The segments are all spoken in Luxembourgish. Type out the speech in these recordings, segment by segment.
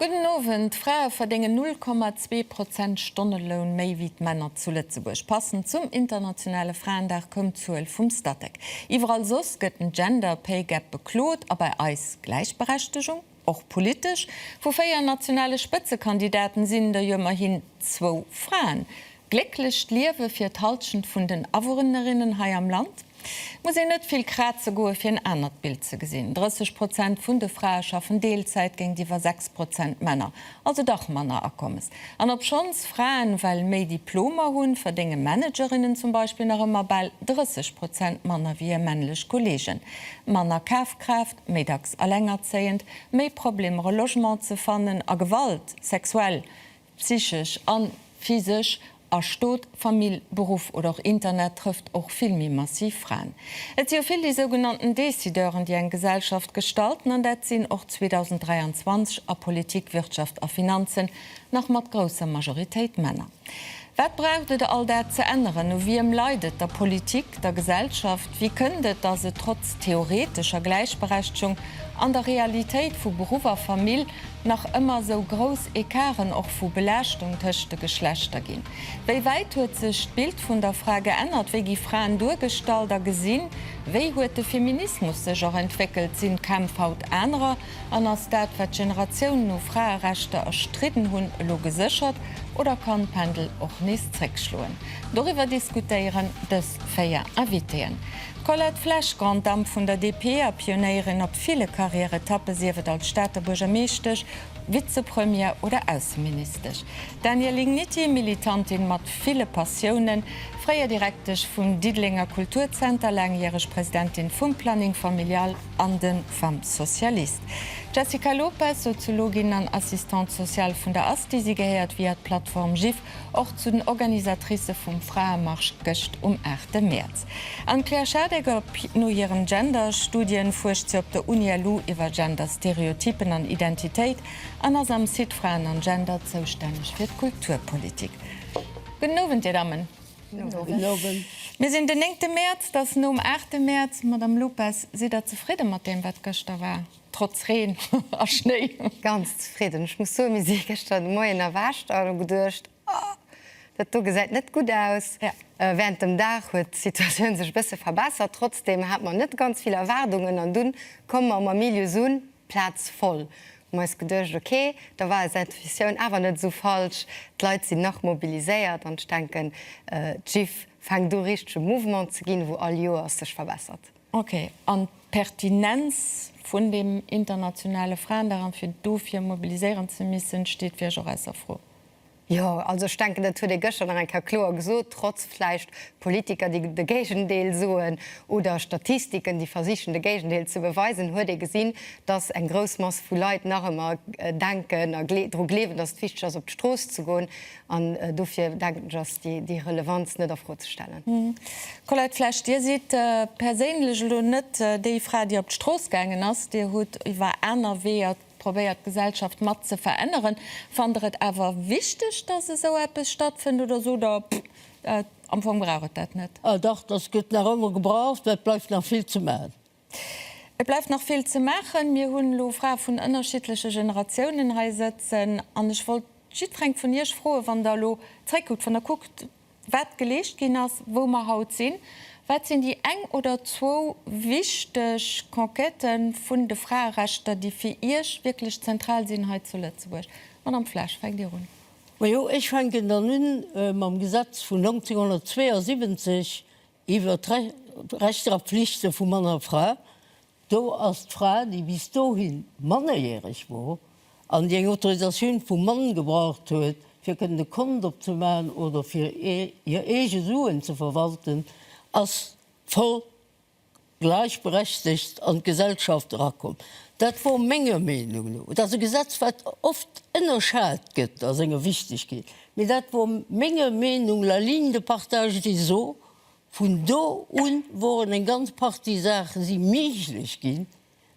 Gudden Owend, D'Frae verdéngen 0,2 Prozent Stonneloun méi wéi d'Männer zu Lëtzebuerg. Passend zum internationale Fraendag koum d'Zuel vum Statec. Iwwerall soss gëtt den Gender Pay Gap beklot, a bei eis Gläichberechtegung och politesch. Vu véier nationale Spëtzekandidaten sinn der jo ëmmerhin zwou Fraen. Glécklecht Liewe fir d'Halschent vun den Awunnerinnen hei am Land. Muss een net vill kraze goe fir en anert Bild ze gesinn. 30 Prozent vun de Frae schaffen Deelzäit géintiwwer 6 Prozent Männer. Also dach manner Akommes. An obschonns Fraen well méi Diplomer hunn, verdénge Managerinnen zum Beispill nach ëmmer bal 30 Prozent manner wéi hir männlech Kollegen. Manner Kafkraaft, méi dacks allengerzéiend, méi Problemer e Logement ze fannen a Gewalt, sexuell, Psychesch an physesch a Stot, Famill, Beruff oder och Internet trëfft och vill méi massiv Fraen. Et si jo vill déi sougenannten Décideuren, déi eng Gesellschaft gestalten, an dat sinn och 2023 a Politik, Wirtschaft a Finanzen nach mat grousser Majoritéit Männer. Wat braucht et all dat ze änneren? U wiem leit et, der Politik, der Gesellschaft? Wéi kënnt et, datt et trotz theoretescher Gläichberechtegung an der Realitéit vu Beruff a Famill nach ëmmer esou grouss Ecarten och vu Belaaschtung tëscht de Geschlechter ginn? Wéi wäit huet sech d'Bild vun der Fra geännert? Wéi gi Fraen duergestallt a gesinn? Wéi huet de Feminismus sech och entwéckelt? Sinn d'Kämpf haut anerer? An ass dat, wat Generatiounen u Fraerechter erstridden hunn, elo geséchert oder kann d'Pendel och nees zréckschloen? Doriwwer diskutéieren dës véier Invitéeën. D'Colette Flesch, Grande Dame vun der DP a Pionéierin op ville Karriäretappe, sief et als Stater Buergermeeschtesch, Vizepremier oder Ausseministesch. D'Danielle Igniti, Militantin mat ville Passiounen, fréier Direktesch vum Diddelenger Kulturzenter, laangjäreg Presidentin vum Planning Familial an de Femmes Socialistes. D'Jessica Lopes, Soziologin an Assistante Sociale vun der Asti. Si gehéiert via d'Plattform Jiff och zu den Organisatricë vum Fraemarsch gëscht um 8 Mäerz. An d'Claire Schadeck op no hiren Genderstudien, fuerscht se op der Uni LU iwwer Genderstereotypen an Identitéit an ass am Site Fraen an Gender zoustänneg fir d'Kulturpolitik. Gudden Owend dir Dammen. Gudden Owend. Mir sinn den néngte Mäerz, da's nom aachte Mäerz. Madame Lopes, sidd der zefridde mat deem wat gëschter war, trotz Reen a Schnéi? Ganz zefridden. Ech muss soen, mir si gëschter de Moien erwächt an hu geduecht, Oh, dat do gesäit net gutt aus. Während dem Dag huet d'Situatioun sech e bësse verbessert. Trotzdem hate mer net ganz vill Erwaardungen an dunn komme mer um Amilius un, d'Plaz voll. Hu mer eis geduecht, ok, da war eis Intuitioun awer net esou falsch, d'Leit sinn nach mobiliséiert an ech denken d'Gif fänkt u richtege Mouvement ze ginn, wou all Joers sech verbessert. Ok, an d'Pertinenz vun deem internationale Fraendag an fir dofir mobiliséieren ze missen, steet fir iech och ausser Fro? Jo, also ech denken, dat huet ee gëschter nach eng Kéier kloer gesot, trotz vläicht Politiker, déi de Géigendeel soen, oder Statistiken, déi versichen, de Géigendeel ze beweisen, huet ee gesinn, dass eng grouss Mass vu Leit nach ëmmer denken a dru gleewen, dass et wichteg ass, op d'Strooss ze goen. An dofir, denken ech, ass déi Relevanz net a Fro ze stellen. Colette Flesch, Dir sidd perséinlech elo net déi Fra, déi op d'Strooss gaangen ass. Dir hutt iwwer aner Weeër Probéiert d'Gesellschaft mat ze veränneren. Fannt der et awer wichteg, dass esou eppes stattfënnt oder sot der, Pff, am Fong brauch et dat net? Ah dach, dass gëtt nach ëmmer gebraucht, mä et bleift nach vill ze maachen. Et bleift nach vill ze maachen. Mir hunn elo Frae vun ënnerschiddleche Generatiounen hei sëtzen an ech wollt jiddwereng vun Iech froen, wann der elo zréckkuckt, wann der kuckt, wat geleescht ginn ass, wou mer haut sinn, wat sinn déi eng oder zwou wichteg Conquête vun de Fraerechter, déi fir Iech wierklech zentral sinn hei zu Lëtzebuerg. Madame Flesch, fänkt Dir un. Majo, ech fänken dann un mam Gesetz vun 1972, Iwwer d'Rechter a Pflichte vu Mann a Fra, do ass d'Fra, déi bis dohi mannerjäreg wor an déi eng Autorisatioun vum Mann gebraucht huet, fir kënnen e Kont opzemaachen oder fir hir eege Suen ze verwalten, ass voll gläichberechtegt an d'Gesellschaft erakomm. Dat wor menger Meenung no, et ass e Gesetz wat oft énnerschat gëtt a senger Wichtegkeet, mee dat wor menger Meenung la ligne de partage des eaux. Vun do un woren eng ganz Partie Saache si méiglech ginn,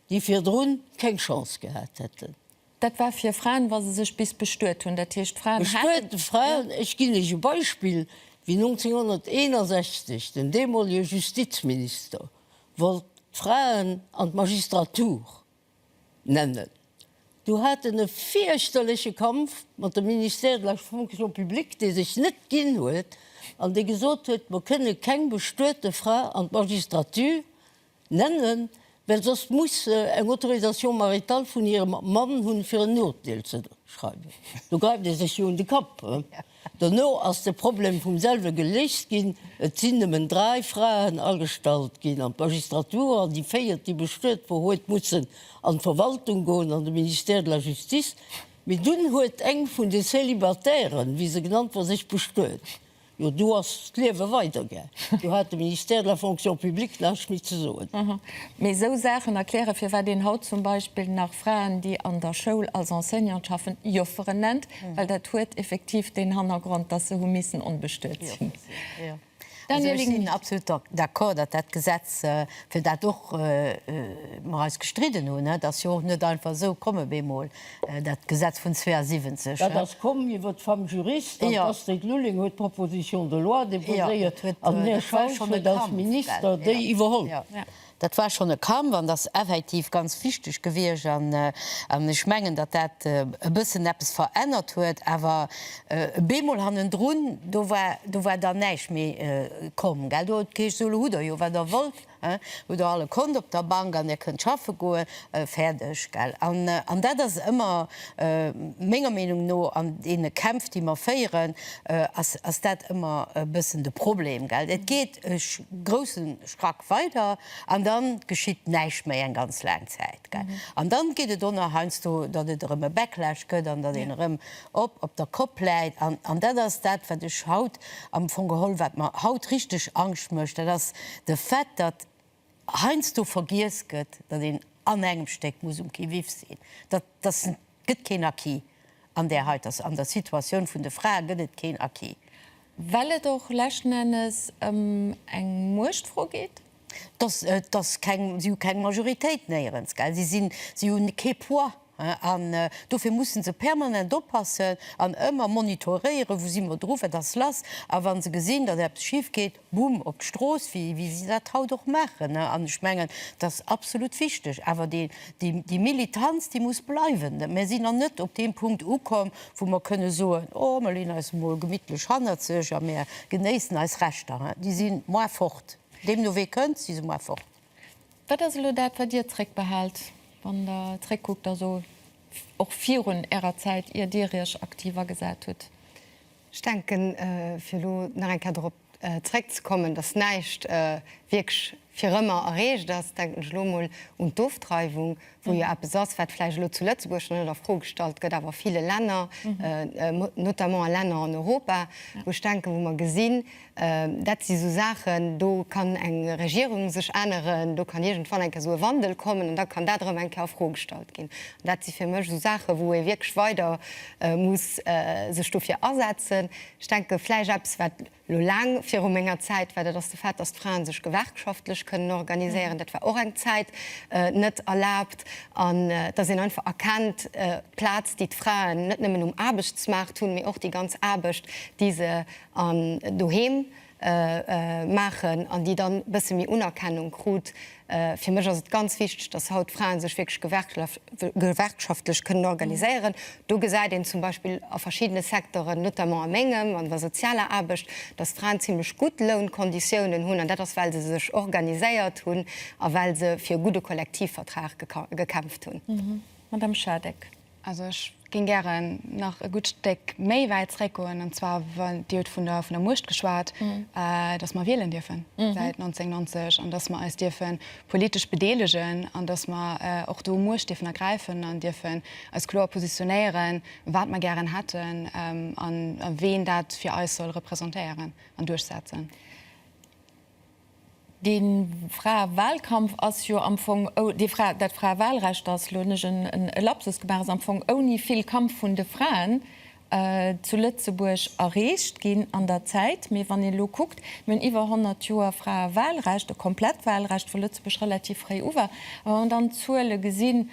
déi virdrun keng Chance gehat hätten. Dat war fir Fraen, wa se sech bis bestuet hunn. Dat heescht, d'Fraen haten. Bestuete Fraen, ech ginn lech e Beispill, wéi 1961 den deemolege Justizminister wollt d'Fraen an d'Magistratur nennen, du hat en e fierchterleche Kampf mat dem Ministère de la Fonction publique, dee sech net ginn huet an dee gesot huet, mer kënne keng bestuete Fra an d'Magistratur. Nennen, well soss muss se eng Autorisation maritale vun hirem Mann hunn, fir en Urteel ze schreiwen. Do gräift ee sech jo un de Kapp. Dono ass de Problem vum selwe geléist ginn. Et sinn nëmmen dräi Fraen agestallt ginn an d'Magistratur an déi véiert, déi bestuet wor, huet mussen an d'Verwaltung goen, an de Ministère de la Justice. Mee dunn huet eng vun de Célibatairen, wéi se genannt wor, sech bestuet. Jo, do ass d'Liewe weiderga. Do hat de Ministère de la Fonction publique näischt méi ze soen. Aha. Mee esou Saachen erklären, firwat een haut zum Beispill nach Fraen, déi an der Schoul als Enseignante schaffen, Jofferen nennt, well dat huet effektiv deen Hannergrond, dass se hu missen onbestuet sinn. Daniel Rinaldi, Ech sinn absolut d'accord, datt dat Gesetz, fir dat och mer eis gestridden hunn, dat ass jo och net einfach esou komm op eemol, Dat Gesetz vun 72. Dat ass komm iwwer d'Femme juriste. An d'Astrid Lulling huet d'Proposition de loi deposéiert. An den Här Schausch huet als Minister déi iwwerholl. Dat war schonn e Kampf an dat ass effektiv ganz wichteg gewiescht. An ech mengen, datt dat e bëssen eppes verännert huet. Awer bemol hannendrun, do war dann näischt méi komm. Do huet et geheescht, Sou, elo hutt Der jo, wat Der wollt. Hutt der all e Kont op der Bank an dir kënnt schaffe goen. Fäerdeg. Gell? An, an dat ass ëmmer, menger Meenung no, an deene Kämpf, déi mer féieren, ass, ass dat ëmmer e bëssen de Problem. Gell? Et geet e grousse Sprack weider an da geschitt näischt méi eng ganz laang Zäit. An dann geet et o nach heiansdo, datt et erëm e Backlash gëtt an datt een erëm op op der Kopp läit. An an dat ass dat, wat ech haut am Fong geholl, wat mer haut richteg Angscht mécht, dat ass de Fait, datt heiansdo vergiess gëtt, datt een an engem Stéck muss um qui vive sinn. Dat, datt. gëtt keen Acquis, an där heiter, an der Situatioun vun de Frae gëtt et keen Acquis. Well et och leschten Ennes ëm eng Muechtfro geet. Et ass, et ass keng, si hu keng Majoritéit néierens, gell. Si sinn, si hu kee Poids, an dofir musse se permanent oppassen an ëmmer monitoréieren, wou si mer dru, wat ass lass, a wa se gesinn, datt eppes schif geet, Bumm op d'Strooss, wéi si dat haut och maachen. An ech mengen, dat ass absolut wichteg. Awer déi Militanz, déi muss bleiwen. Mir sinn nach net op deem Punkt ukomm, wou mer kënne soen, Oh, mir leeën eis emol gemittlech hannerzeg a mir genéissen eis Rechter. Déi si moar fort. Deemno wéi e kënnt, si se moar fort. Wat ass elo dat, wat Dir zréckbehaalt, wann Der zréckkuckt, also och virun Ärer Zäit, ier Dir Iech aktiv agesat hutt? Ech denken, fir elo nach eng Kéier dorop zréckzekommen, dass näischt wierklech fir ëmmer erreecht ass, denken ech elo emol un d'Ofdreiwung, wou jo eppes ass, wat vläicht elo zu Lëtzebuerg nach net a Fro gestallt gëtt, awer a ville Länner, notamment a Länner an Europa, wou ech denken, wou mer gesinn, Dat si sou Saachen, do kann eng Regierung sech änneren, do kann iergendwann eng Kéier sou e Wandel kommen an da kann dat erëm eng Kéier a Fro gestallt ginn. An dat si fir mech sou Saachen, wou ee wierklech weider muss sech dofir asetzen. Ech denke vläicht eppes, wat elo laang viru menger Zäit war, dat ass de Fait, datt d'Fraen sech gewerkschaftlech kënnen organiséieren. Dat war och eng Zäit net erlaabt. An datt een einfach erkennt, d'Plaz, déi d'Fraen net nëmmen um Aarbechtsmaart hunn, mee och déi ganz Aarbecht, déi se an doheem maachen an déi dann bësse méi Unerkennung krut. Fir mech ass et ganz wichteg, dass haut Fraen sech wierklech gewerkschaftlech kënnen organiséieren. Do gesäit een zum Beispill a verschiddene Secteuren, notamment a mengem, an der sozialer Aarbecht, dass d'Fraen zimlech gutt Lounkonditiounen hunn an dat ass well se sech organiséiert hunn a well se fir e gudde Kollektivvertrag gekämpft hunn. Madame Schardeck. Also ech géing gären nach e gutt Stéck méi wäit zréckgoen, an zwar wann Dir hutt vun der vun der Muecht geschwat, dass mer wielen dierfen säit 1990 an dass mer eis dierfe politesch bedeelegen an dass mer och do Muecht dierfen ergräifen an dierfen eis kloer positionéieren, wat mer gären hätten a ween dat fir eis soll representéieren an duerchsetzen. Dee Fraewalkampf ass jo am Fong, dee Frae, dat Fraewalrecht ass, elo hunn ech e Lapsus gemaach, ass am Fong ouni vill Kampf vun de Fraen zu Lëtzebuerg erreecht ginn an der Zäit. Mee wann een elo kuckt, mir hunn iwwer 100 Joer Fraewalrecht, e komplett Walrecht, wou Lëtzebuerg relativ fréi u war, a wa mer dann d'Zuele gesinn,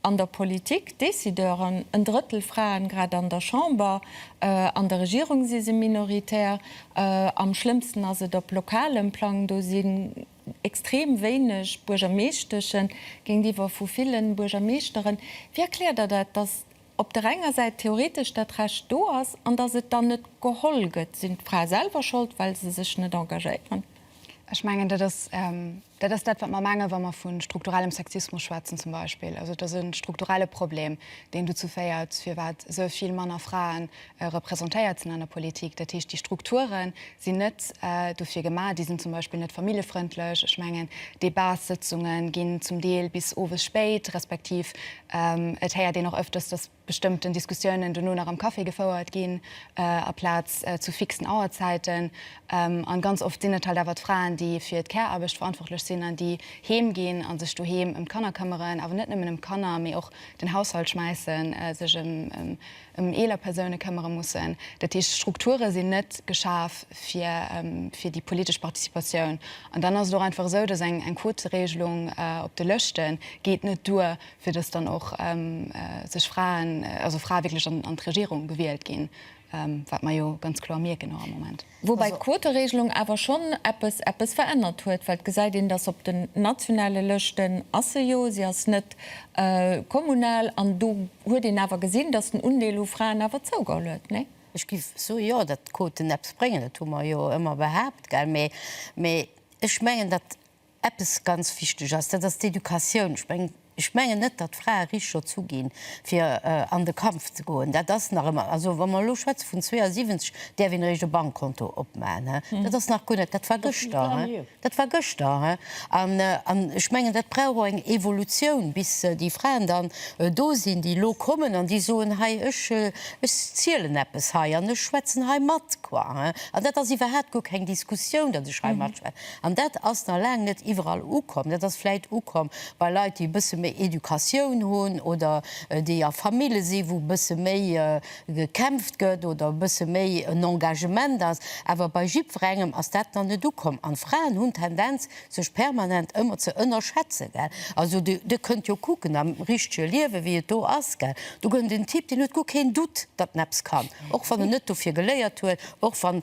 an der Politik Decideuren, en Drëttel Fraen grad an der Chamber, an der Regierung si se minoritär, am schlëmmsten ass et op lokalem Plang, do sinn extrem wéineg Buergermeeschteschen géintiwwer vu ville Buergermeeschteren. Wéi erkläert Der dat, datt op der enger Säit theoretesch dat Recht do ass an datt et dann net geholl gëtt? Sinn d'Frae selwer Schold, well se sech net engagéieren? Ech mengen dat ass. Dat ass dat, wat mer mengen, wa mer vu strukturellem Sexismus schwätzen zum Beispill. Also et ass e strukturelle Problem, deen dozou féiert, firwat esou vill manner Frae representéiert sinn an der Politik. Dat heescht, déi Strukture sinn net dofir gemaach. Déi sinn zum Beispill net familljefrëndlech. Ech mengen, Debatssëtzunge ginn zum Deel bis owes spéit, respektiv et héiert een och öfters, dass bestëmmten Diskussiounen dono nach am Café gefouert ginn, aplaz zu fixen Auerzäiten. An ganz oft sinn et halt awer d'Fraen, déi fir d'Care-Aarbecht verantwortlech sinn an déi heem ginn a sech doheem ëm d'Kanner këmmeren, awer net nëmmen ëm d'Kanner, mee och den Haushalt schmäissen, sech ëm eeler Persoune këmmere mussen. Dat heescht, d'Strukture sinn net geschaf fir déi politesch Participatioun. An dann ass et och einfach esou, dass eng Quoteregelung op de Lëschte geet net duer, fir dass dann och sech Fraen, also Frae wierklech an d'Regierung gewielt ginn, wat mer jo ganz kloer mierken och am Moment. Woubäi d'Quoteregelung awer schonn eppes, eppes verännert huet, well et gesäit een, dass op den nationale Lëschten ass se jo, si ass net kommunal, an do huet een awer gesinn, dass den Undeel u Fraen awer zougeholl huet, nee? Ech géif soe jo, datt d'Quoten eppes bréngen, dat hu mer jo ëmmer behaapt, mä ech mengen, datt Eppes ganz wichteg ass, dat ass d'Educatioun. Ech mengen, ech mengen net, datt d'Frae richteg dozou ginn, fir an de Kampf ze goen. Dat ass nach ëmmer, also wa mer elo schwätze vun 72, däerf een eréischt e Bankkonto opmaachen, he? Dat ass nach guer net, dat war gëschter, he? Dat war gëschter, he? An, an ech mengen, dat brauch och eng Evolutioun, bis déi Fraen dann do sinn, déi elo kommen an déi soen, hei, ech, ech zielen eppes hei an ech schwätzen hei mat, quoi, he? An dat ass iwwerhaapt guer keng Diskussioun, datt ech hei matschwätzen. An dat ass nach laang net iwwerall ukomm. Dat ass vläicht ukomm bei Leit, déi e bësse méi Educatioun hunn oder déi a Famille sinn, wou e bësse méi gekämpft gëtt oder e bësse méi en Engagement ass. Awer bei jiddwerengem ass dat nach net ukomm. An d'Fraen hunn d'Tendenz, sech permanent ëmmer ze ënnerschätzen. Gell? Also Dir, Dir kënnt jo kucken am richtege Liewe wéi et do ass. Gell? Do gëtt en den Typ, deen huet guer keen Doute, datt en eppes kann, och wann en net dofir geléiert huet, och wann,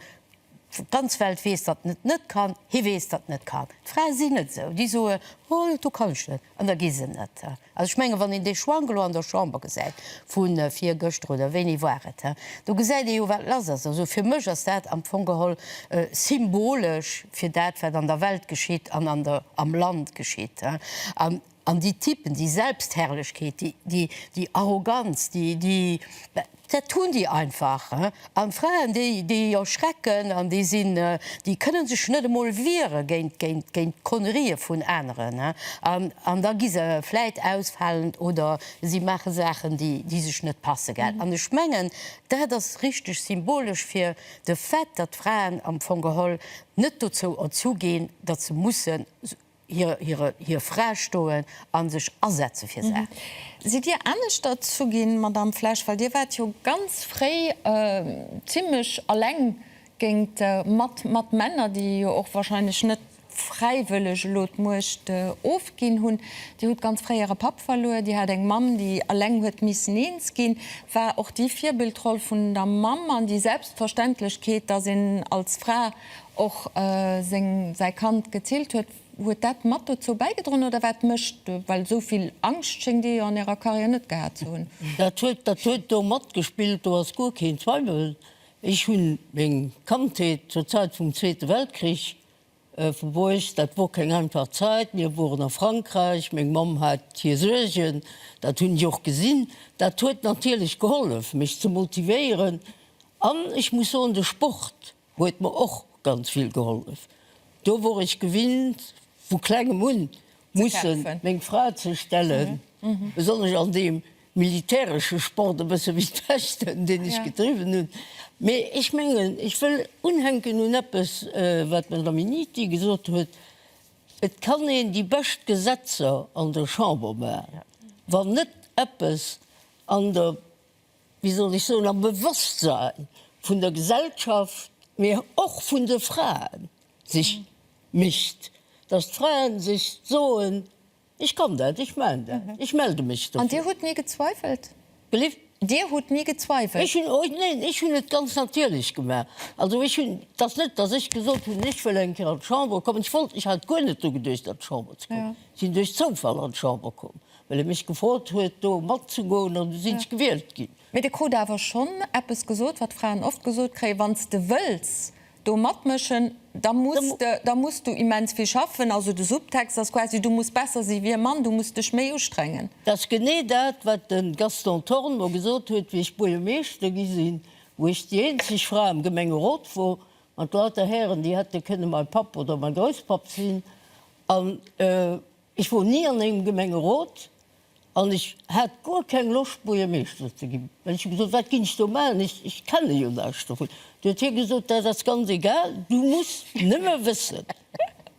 D'ganz Welt weess, datt en et net kann. Hie weess, datt en net kann. D'Frae sinn net esou. Déi soe, Oh, dat do kann ech net. An da gi se net. Also ech menge wann een dee Schwank elo an der Chamber gesäit vu virgëschter, oder wéini war et, do gesäit ee jo wat lass ass. Also fir mech ass dat am Fong geholl symbolesch fir dat wat an der Welt geschitt an am Land geschitt. An déi Typen, déi Selbstherrlechkeet, déi, déi Arroganz, déi, déi, dat hunn déi einfach. An d'Fraen, déi, déi erschrecken an déi sinn, déi kënne sech net emol wiere géint, géint, géint d'Connerie vun aneren. An, an da gi se vläit ausfalend oder si maache Saachen, déi, déi sech net passe gell. An ech mengen, dat ass richteg symbolesch fir de Fait, datt d'Fraen am Fong geholl net dozou erzuginn, datt se mussen hir Fra stoen a sech asetze fir Saachen. Sidd Dir anescht derzou ginn, Madamm Flesch, well Dir waart jo ganz fréi zimlech eleng géingt, mat Männer, déi jo och wahrscheinlech net fräiwëlleg elo d'Muecht ofginn hunn. Dir hutt ganz fréi Äre Papp verluer, Dir hat eng Mamm, déi eleng huet missen eens ginn. War och déi Virbildroll vun der Mamm an déi Selbstverständlechkeet, dass een als Fra, och seng säi Kand gezillt huet, huet dat mat dozou bäigedroen oder wat mécht, well esou vill Angscht schéngt Dir jo an Ärer Karriär net gehat ze hunn? Dat huet, dat huet do matgespillt, do ass guer keen Zweiwel. Ech hunn meng Kandheet zur Zäit vum Zweete Weltkrich verbruecht, dat wor keng einfach Zäit, mir woren a Frankräich, meng Mamm hat hir Suergen, dat hunn ech och gesinn, dat huet natierlech gehollef mech ze motivéieren an ech muss soen de Sport, Huet mer och ganz vill gehollef. Do wor ech gewinnt vu klengem un musse meng Fra ze stellen, besonnesch an deem militäresche Sport e bësse wéi d'Pechten, deen ech gedriwwen hunn. Mee ech mengen, ech wëll unhänken un eppes, wat den Dominicque gesot huet, Et kann een déi bescht Gesetzer an der Chamber maachen, wann net eppes an der. wéi soll ech soen, am Bewosstsein vun der Gesellschaft, mä och vun de Fraen sech mécht, dass d'Fraen sech soen, Ech kann dat, ech maan dat, ech melde mech dofir. An Dir hutt ni gezweifelt? Believe? Dir hutt ni gezweifelt? Ech hunn, oh neen, ech hunn et ganz natierlech gemaach. Also ech hunn, et ass net, dass ech gesot hunn, ech wëll eng Kéier an d'Chamber kommen, ech wollt, ech hat guer net dru geduecht, an d'Chamber ze kommen. Ech sinn duerch Zoufall an d'Chamber komm. Well e mech gefrot huet, do matzegoen, an du sinn ech gewielt ginn. Mee de krut awer schonn eppes gesot, wat Fraen oft gesot kréien, Wann s de wëlls do matmëschen, da muss de, da muss du immens vill schaffen. Also de Subtext ass quasi, du muss besser si wéi e Mann, du muss dech méi ustrengen. Dat ass genee dat, wat de Gaston Thorn mer gesot huet, wéi ech Buergermeeschter gi sinn, wou ech déi eenzeg Fra am Gemengerot wor, mat lauter Hären, déi hätte kënne mäi Papp oder mäi Grousspapp sinn. An Ech wor ni an engem Gemengerot an ech hat guer keng Loscht Buergermeeschter ze ginn, well ech hu gesot, wat ginn ech do maachen, ech kenne jo näischt dovun. Du huet hie gesot, dat ass ganz egal, du muss nëmme wëssen,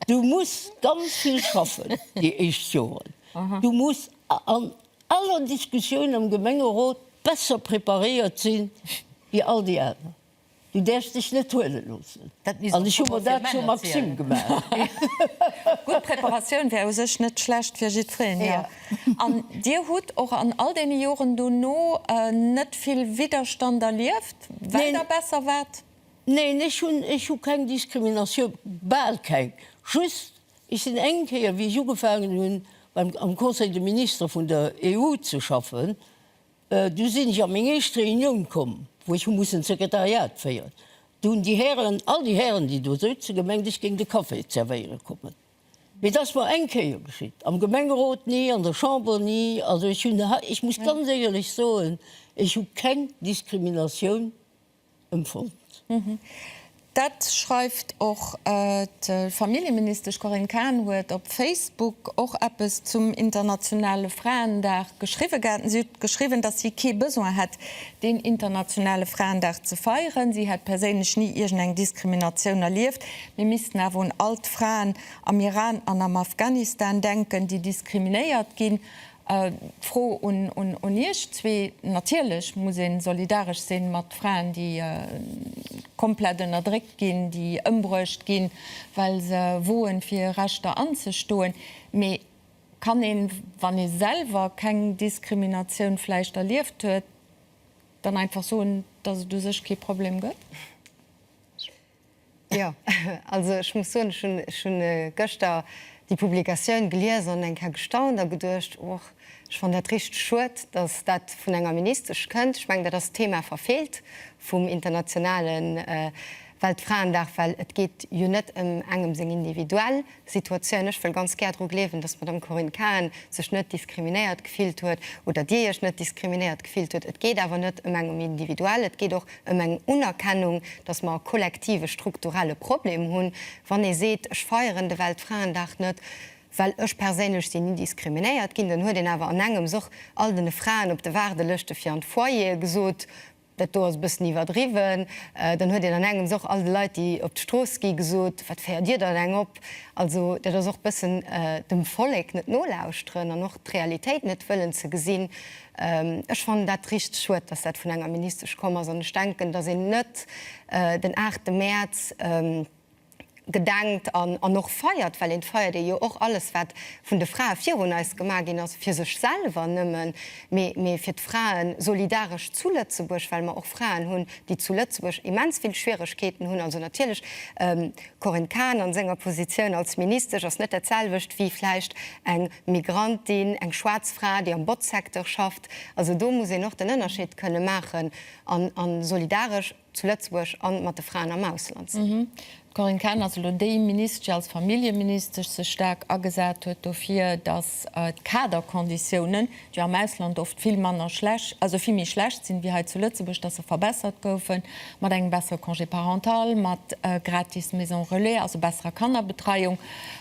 du muss ganz vill schaffen déi éischt Joren, du muss an aller Diskussioun am Gemengerot besser preparéiert sinn wéi all déi aner. Du däerfs dech net huele loossen. An ech hu mer dat zur Maxime gemaach. Gutt Preparatioun wär u sech net schlecht fir jiddwereen, jo. An Dir hutt och an all deene Joren dono net vill Widderstand erlieft, well Der besser waart? Neen, ech hunn, ech hu keng Diskriminatioun, bal keng. Just, ech sinn eng Kéier, wéi ech ugefaangen hunn beim, am Conseil de Ministre vun der EU ze schaffen, Du sinn ech a meng éischt Reunioun komm, wou ech hu mussen d'Sekretariat féieren. Do hunn déi Hären, all déi Hären, déi do souzen, gemengt, ech géing de Café zerwéiere kommen. Mee dat ass mer eng Kéier geschitt, am Gemengerot ni, an der Chamber ni. Also ech hunn, ech muss ganz éierlech soen, ech hu keng Diskriminatioun. Empfong. Dat schreift och d'Familljeministesch Corinne Cahen huet op Facebook och eppes zum internationale Fraendag geschriwwen gehat. Si huet geschriwwen, datt si kee Besoin hätt, deen internationale Fraendag ze feieren. Si hätt perséinlech ni iergendeng Diskriminatioun erlieft. Mir missten awer un all d'Fraen am Iran an am Afghanistan denken, déi diskriminéiert ginn. D'Fro un Iech zwee, Natierlech muss ee solidaresch si mat Fraen, déi komplett ënnerdréckt ginn, déi ëmbruecht ginn, well se woen, fir hir Rechter anzestoen. Mee kann een, wann ee selwer keng Diskriminatioun vläicht erlieft huet, dann einfach soen, dass et u sech kee Problem gëtt? Jo, also ech muss soen, ech hunn gëschter déi Publikatioun gelies an eng Kéier gestaunt a geduecht, och ech fannen dat richteg schued, datt dat vun enger Ministesch kënnt. Ech mengen, dat ass d'Thema verfeelt vum internationale Weltfraendag, well et geet jo net ëm engem seng individuell Situatioun. Ech wëll ganz gär dru gleewen, dass d'Madame Corinne Cahen sech net diskriminéiert gefillt huet oder Dir Iech net diskriminéiert gefillt hutt. Et geet awer net ëm eng um Individuell, et geet och ëm eng Unerkennung, dass mer e kollektive strukturelle Problem hunn. Wann ee seet, ech feieren de Weltfraendag net, well ech perséinlech sinn ni diskriminéiert ginn, dann huet een awer an engems och all den Fraen op de Waardelëschte fir an d'Foyere gesot, Dat do ass e bëssen iwwerdriwwen. Dann huet een an engems och all de Leit, déi op d'Strooss gi gesot, Wat féiert dir dann eng op? Also dat ass och e bëssen dem Vollek net nolauschteren an och d'Realitéit net wëllen ze gesinn. Ech fannen dat richteg schued, dass dat vun enger Ministesch komm ass an ech denken, dass een net den aachte Mäerz, gedenkt an an och feiert, well een feiert ee jo och alles wat vun de Frae virun eis gemaach ginn ass, fir sech selwer nëmmen, mee mee fir d'Fraen solidaresch zu Lëtzebuerg, well mer och Fraen hunn, déi zu Lëtzebuerg immens vill Schwieregkeeten hunn. Also natierlech, Corinne Cahen a senger Positioun als Ministesch ass net dat selwecht wéi vläicht eng Migrantin, eng schwaarz Fra, déi am Botzsecteur schafft. Also do muss een och den Ënnerscheed kënne maachen an an solidaresch. zu Lëtzebuerg a mat de Fraen am Ausland sinn. D'Corinne Cahen ass elo déi Ministesch, déi als Familljeministesch sech staark agesat huet dofir, datt d'Kaderkonditiounen, déi jo am Ausland oft vill manner schlecht, also vill méi schlecht sinn, wéi hei zu Lëtzebuerg, datt se verbessert goufen, mat engem bessere Congé parental, mat gratis Maison Relais, also besserer Kannerbetreiung.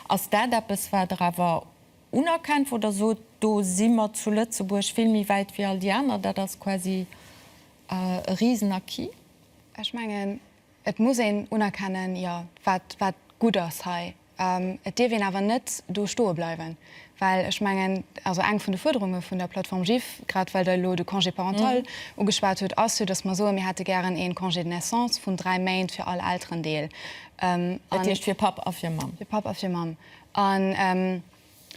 Ass dat eppes, wat Der awer unerkennt, wou Der sot, do si mer zu Lëtzebuerg vill méi wäit wéi all déi aner, dat ass quasi E riesen Acquis. Ech mengen, et muss een unerkennen, jo, wat gutt ass hei. Et dierf een awer net do stoe bleiwen, well ech mengen, also eng vun de Fuerderunge vun der Plattform GIFF, grad well Der elo de Congé parental ugeschwat hutt, ass jo, datt mer soen, mir hätte gären ee Congé de naissance vun dräi Méint fir all Elterendeel. Dat heescht fir Papp a fir Mamm. Fir Papp a fir Mamm.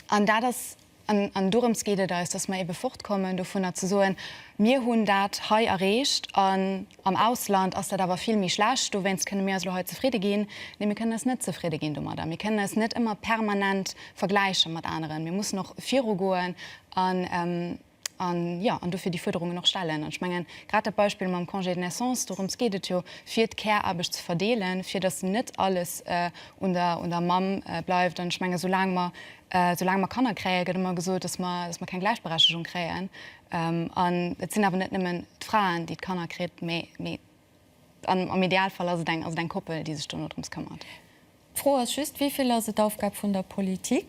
An dat ass, an dorëms geet et eis, dass mer ebe fortkommen dovunner ze soen, Mir hunn dat hei erreecht an am Ausland ass dat awer vill méi schlecht, dowéinst kënne mir eis elo hei zefridde ginn. Nee, mir kënnen eis net zefridde ginn domadder. Mir kënnen eis net ëmmer permanent vergläiche mat aneren. Mir mussen och virugoen an, an, jo, an dofir déi Fuerderungen och stellen. An ech mengen, grad dat Beispill mam Congé de naissance, dorëms geet et jo, fir d'Care-Aarbecht ze verdeelen, fir datt net alles un der, un der Mamm bleift. An ech menge soulaang mer, soulaang mer Kanner kréien, gëtt ëmmer gesot, datt mer, datt mer keng Gläichberechtigung kréien. An et sinn awer net nëmmen d'Fraen, déi d'Kanner kritt, mä, mä am, am Idealfall ass et eng, ass et eng Koppel, déi sech dono drëms këmmert. D'Fro ass just, Wivill ass et Aufgab vun der Politik?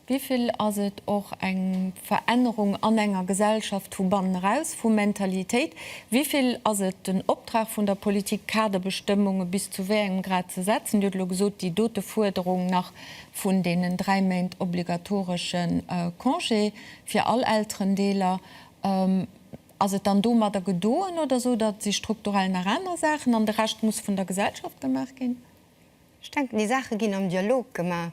Wivill ass et och eng Verännerung an enger Gesellschaft vu bannen eraus, vu Mentalitéit? Wivill ass et den Optrag vun der Politik, Kaderbestëmmunge bis zu wéi engem Grad ze setzen? Dir hutt elo gesot, déi dote Fuerderung nach vun deenen dräi Méint obligatoresche Congé fir all Elterendeeler, ass et dann domadder gedoen oder sot Der, et si strukturell nach aner Saachen an de Rescht muss vun der Gesellschaft gemaach ginn? Ech denken, déi Saache ginn am Dialog gemaach,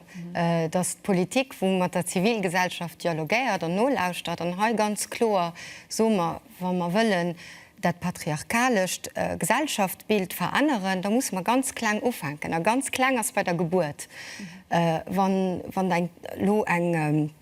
dass d'Politik, wou mat der Zivilgesellschaft dialogéiert an nolauschtert an hei ganz kloer, soe mer, wa mer wëllen dat patriarchalescht Gesellschaftsbild veränneren, da musse mer ganz kleng ufänken. A ganz kleng ass bei der Gebuert. Wann elo eng.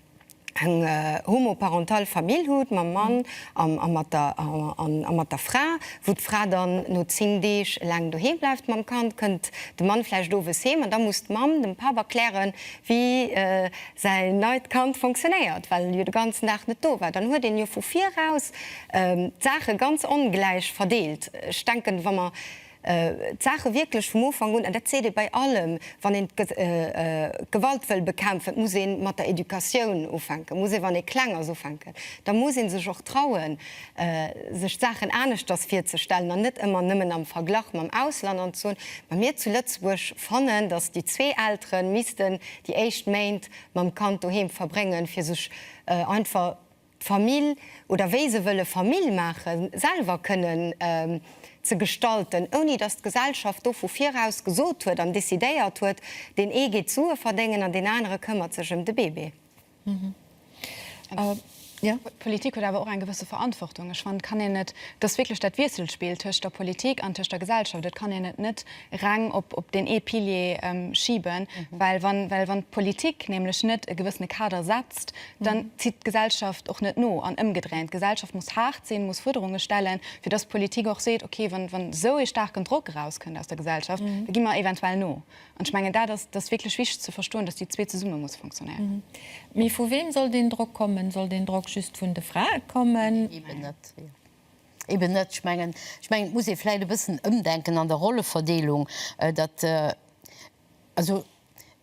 eng homoparental Famill hutt, mam Mann a mat der a mat der Fra, wou d'Fra dann no 10 Deeg eleng doheem bleift mam Kand, kënnt de Mann vläicht owes heem an da muss d'Mamm dem Papp erklären, wéi säi neit Kand fonctionnéiert, well en jo de ganzen Dag net do war. Dann huet een jo vu viraus d'Saache ganz ongläich verdeelt. Ech denken, wa mer D'Saache wierklech vum Ufank un, an dat seet ee bei allem, wann een d'Gewalt wëll bekämpfen, muss ee mat der Educatioun ufänken, muss ee wann ee kleng ass ufänken. Da muss ee sech och trauen, sech d'Saachen aneschters virzestellen an net ëmmer nëmmen am Verglach mam Ausland an ze soen, ma mir zu Lëtzebuerg fannen, datt déi zwee Eltere missten déi éischt Méint mam Kand doheem verbréngen, fir sech einfach, d'Famill oder wéi se wëlle Famill maachen, selwer kënnen ze gestalten, ouni datt d'Gesellschaft do vu viraus gesot huet an decidéiert huet, deen ee geet Sue verdéngen an deen anere këmmert sech ëm de Bébé. D'Politik huet awer och eng gewësse Verantwortung. Ech fannen, et kann een net, et ass wierklech dat Wiesselspill tëscht der Politik an tëscht der Gesellschaft, et kann een et net reng op deen ee Pilier schiben, well wann d'Politik nämlech net e gewëssene Kader setzt, dann zitt d'Gesellschaft och net no an ëmgedréint. D'Gesellschaft muss haart sinn, muss Fuerderunge stellen, fir dass d'Politik och seet, okay, wann esou ee staarken Drock erauskënnt aus der Gesellschaft, da gi mer eventuell no. An ech mengen, dat ass wierklech wichteg ze verstoen, dass déi zwee zesumme muss funktionéieren. Mee vu wem soll deen Drock kommen? Soll deen Drock just vun de Frae kommen? Eben net. Eben net. Ech mengen, ech mengen, et muss ee vläicht e bëssen ëmdenken an der Rolleverdeelung. Dat, also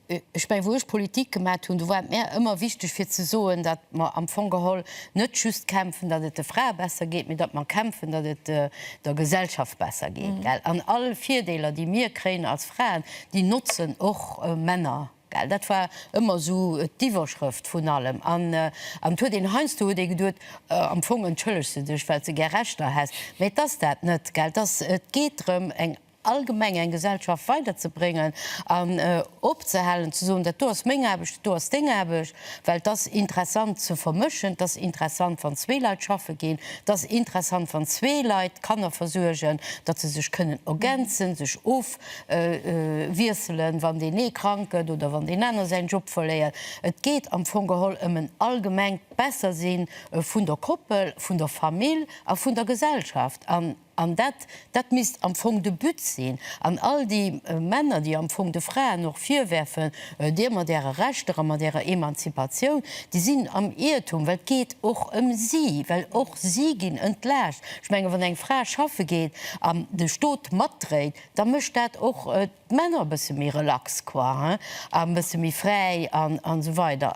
ech mengen, wou ech Politik gemat hunn, do war et mär ëmmer wichteg fir ze soen, datt mer am Fong geholl net just kämpfen, datt et de Frae besser geet, mee datt mer kämpfen, datt et der Gesellschaft besser geet, gell. An all Virdeeler, déi mir kréien als Fraen, déi notzen och Männer. Well dat war ëmmer esou d'Iwwerschrëft vun allem. An et huet een, heiansdo huet ee geduet, am Fong entschëllegt se dech, well s de gär Rechter häss. Mä et ass dat net, gell. Et ass, et geet drëm, eng allgemeng, eng Gesellschaft weiderzebréngen an opzehalen ze soen, dat do ass meng Aarbecht, dat do ass deng Aarbecht. Well et ass interessant ze vermëschen. Et ass interessant, wann zwee Leit schaffe ginn. Et ass interessant, wann zwee Leit d'Kanner versuergen, datt se sech kënnen ergänzen, sech of, wiesselen, wann deen ee krank gëtt oder wann deen aner säin Job verléiert. Et geet am Fong geholl ëm en allgemengt Bessersi vun der Koppel, vun der Famill a vun der Gesellschaft. An an dat, dat misst am Fong de But sinn. An all déi Männer, déi am Fong de Fraen och virwerfen, Dir mat Äre Rechter a mat Ärer Emanzipatioun, déi sinn am Iertum, well et geet och ëm si, well och si ginn entlaascht. Ech menge wann eng Fra schaffe geet an de Stot matdréit, da mécht dat och d'Männer e bësse méi relax quoi, hein, a e bësse méi fräi an esou weider.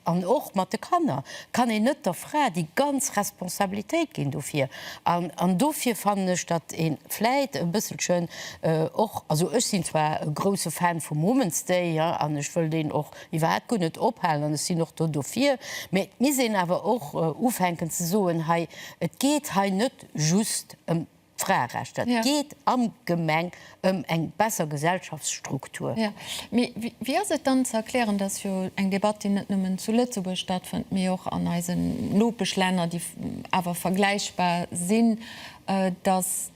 An och mat de Kanner kann een net der Fra déi ganz Responsabilitéit ginn dofir. An dofir fannen ech, datt ee vläit e bësselchen och, also ech sinn zwar e grousse Fan vum Women's Day, hein, an ech wëll deen och Iwwer hat guer net ophalen, an ech sinn och do dofir. Mee et misst een awer och ufänken ze soen, hei, et geet hei net just ëm d'Fraerechter, et geet allgemeng ëm eng besser Gesellschaftsstruktur. Jo, mee wéi ass et dann ze erklären, dass jo eng Debatt, déi net nëmmen zu Lëtzebuerg stattfënnt, mee och an eisen Nopeschlänner, déi awer vergläichbar sinn, dass,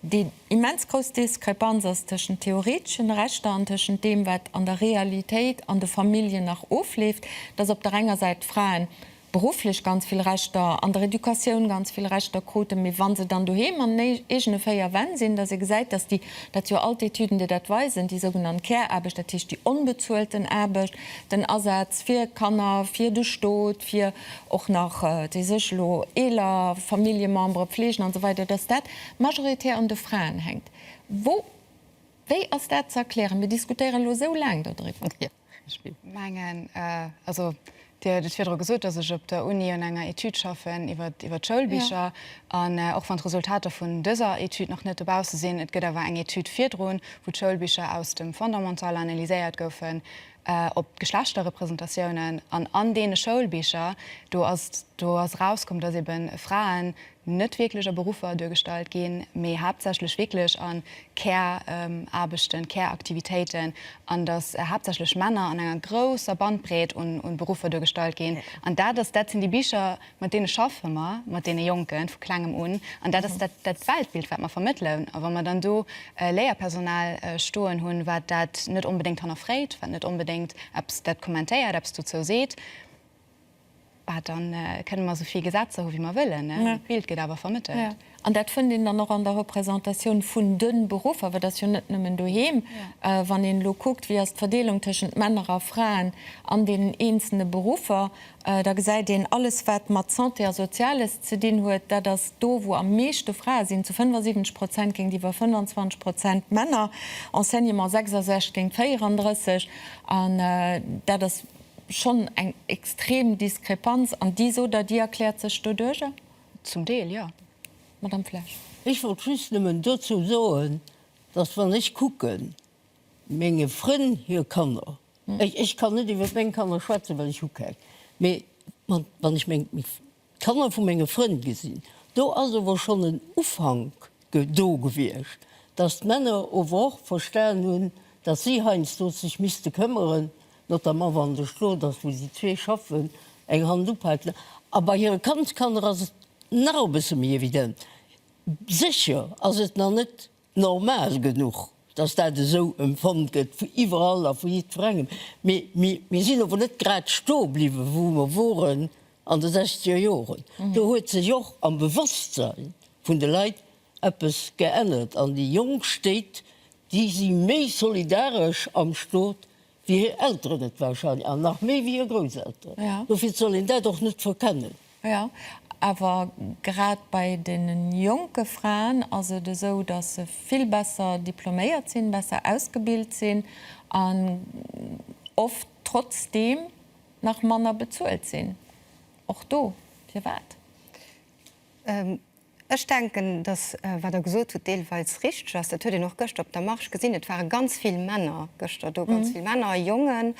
Déi immens grouss Diskrepanz ass tëschent theoreteschen Rechter an tëschent deem, wat an der Realitéit an de Familljen nach ofleeft, dass op der enger Säit d'Fraen berufflech ganz vill Rechter, an der Educatioun ganz vill Rechter kruten, mee wa se dann doheem an den eegene véier Wänn sinn, dass ee gesäit, dass déi, dat si jo all d'Etüden, déi dat weisen, déi sougenannt Care-Aarbecht, dat heescht déi onbezuelten Aarbecht, den Asaz fir Kanner, fir de Stot, fir. och nach, déi sech elo eeler Familljemembere pfleegen an esou weider, dass dat majoritär un de Fraen hänkt. Wou, wéi ass dat ze erklären? Mir diskutéieren elo esou laang do driwwer. Ech mengen, also Dir huet et virdru gesot, dass ech op der Uni un enger Etüd schaffen iwwert, iwwert d'Schoulbicher. An och wann d'Resultater vun dëser Etüd nach net dobausse sinn, et gëtt awer eng Etüd virdrun, wou d'Schoulbicher aus dem Fondamental analyséiert goufen, op d'Geschlechterrepresentatiounen an an deene Schoulbicher, do ass, do ass erauskomm, datt ebe Fraen net wierklech a Beruffer duergestallt ginn, mee haaptsächlech wierklech a Care-Aarbechten, Care-Aktivitéiten, an datt haaptsächlech Männer an enger grousser Bandbreet un Beruffer duergestallt ginn. An dat ass, dat sinn déi Bicher, Mat deene schaffe mer, mat deene Jonke vu Klengem un. An dat ass dat, dat Weltbild, wat mer vermëttelen. A wa mer dann do Léierpersonal stoen hunn, wat dat net onbedéngt hannerfréit, wat net onbedéngt eppes dat kommentéiert, eppes dozou seet, bah, da kënne mer esou vill Gesetzer hu wéi mer wëllen, d'Bild gëtt awer vermëttelt. An dat fënnt een dann och an der Représentatioun vun de Beruffer, well et ass jo net nëmmen doheem. Wann een elo kuckt, wéi ass d'Verdeelung tëschent Männer a Fraen an deenen eenzele Beruffer, da gesäit een, alles wat mat Santé a Soziales ze dinn huet, dat ass do wou am meeschte Frae sinn, zu 75 Prozent géintiwwer 25 Prozent Männer, Enseignement 66 géint 34. An dat ass schonn eng extrem Diskrepanz. An déi, sot Der, déi erkläert sech doduerjer? Zum Deel, jo. Madamm Flesch. Ech wollt just nëmmen dozou soen, dass, wann ech kucken, menge Frënn hir Kanner, ech kann net iwwer meng Kanner schwätzen, well ech hu keng, mee wann ech meng d'Kanner vu menge Frënn gesinn, do ass ower schonn en Ufank do gewiescht, dass d'Männer ower och verstanen hunn, dass si heiansdo sech misste këmmeren, notamment wann de Stot ass, wou si zwee schaffen, eng Hand uphält, a bei hire Kandskanner ass et nach e bësse méi evident. Sécher ass et nach net normal genuch, datt dat esou emfonnt gëtt vu iwwerall a vu jiddwerengem, mee mir sinn ower net grad stoe bliwwen, wou mer woren an de sechzeger Joren. Do huet sech och am Bewosstsein vun de Leit eppes geännert an déi jonk Stéit, déi si méi solidaresch am Stot wéi hir Elteren et wahrscheinlech, an nach méi wéi hir Grousselteren. Dofir soll een dat och net verkennen. Jo, awer grad bei deenen jonke Fraen ass et esou, dass se vill besser diploméiert sinn, besser ausgebilt sinn an oft trotzdeem nach manner bezuelt sinn. Och do, firwat? Ech denken, dass, wat Der gesot hutt, deelweis richteg ass. Dat huet een och gëschter op der Marche gesinn. Et ware ganz vill Männer gëschter do, ganz vill Männer, Jongen.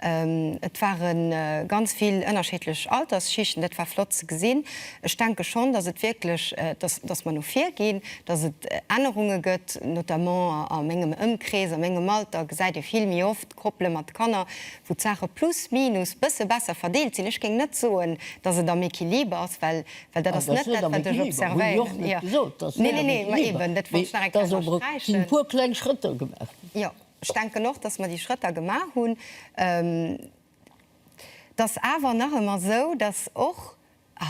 Et ware ganz vill ënnerschiddlech Altersschichten. Dat war flott ze gesinn. Ech denke schonn, dass et wierklech, dass mer no vir ginn, dass et Ännerunge gëtt, notamment a mengem Ëmkrees, a mengem Alter gesäit ee vill méi oft, Koppele mat Kanner, wou d'Saache plus minus bësse besser verdeelt sinn, ech géing net soen, dass et am Equiliber ass, well dat ass net dat, wat ech observéieren. Neen, neen, neen, ma eben, dat wollt ech nach eng Kéier ënnersträichen. Jo, ech denken och, dass mer déi Schrëtter gemaach hunn. Et ass awer nach ëmmer esou, dass och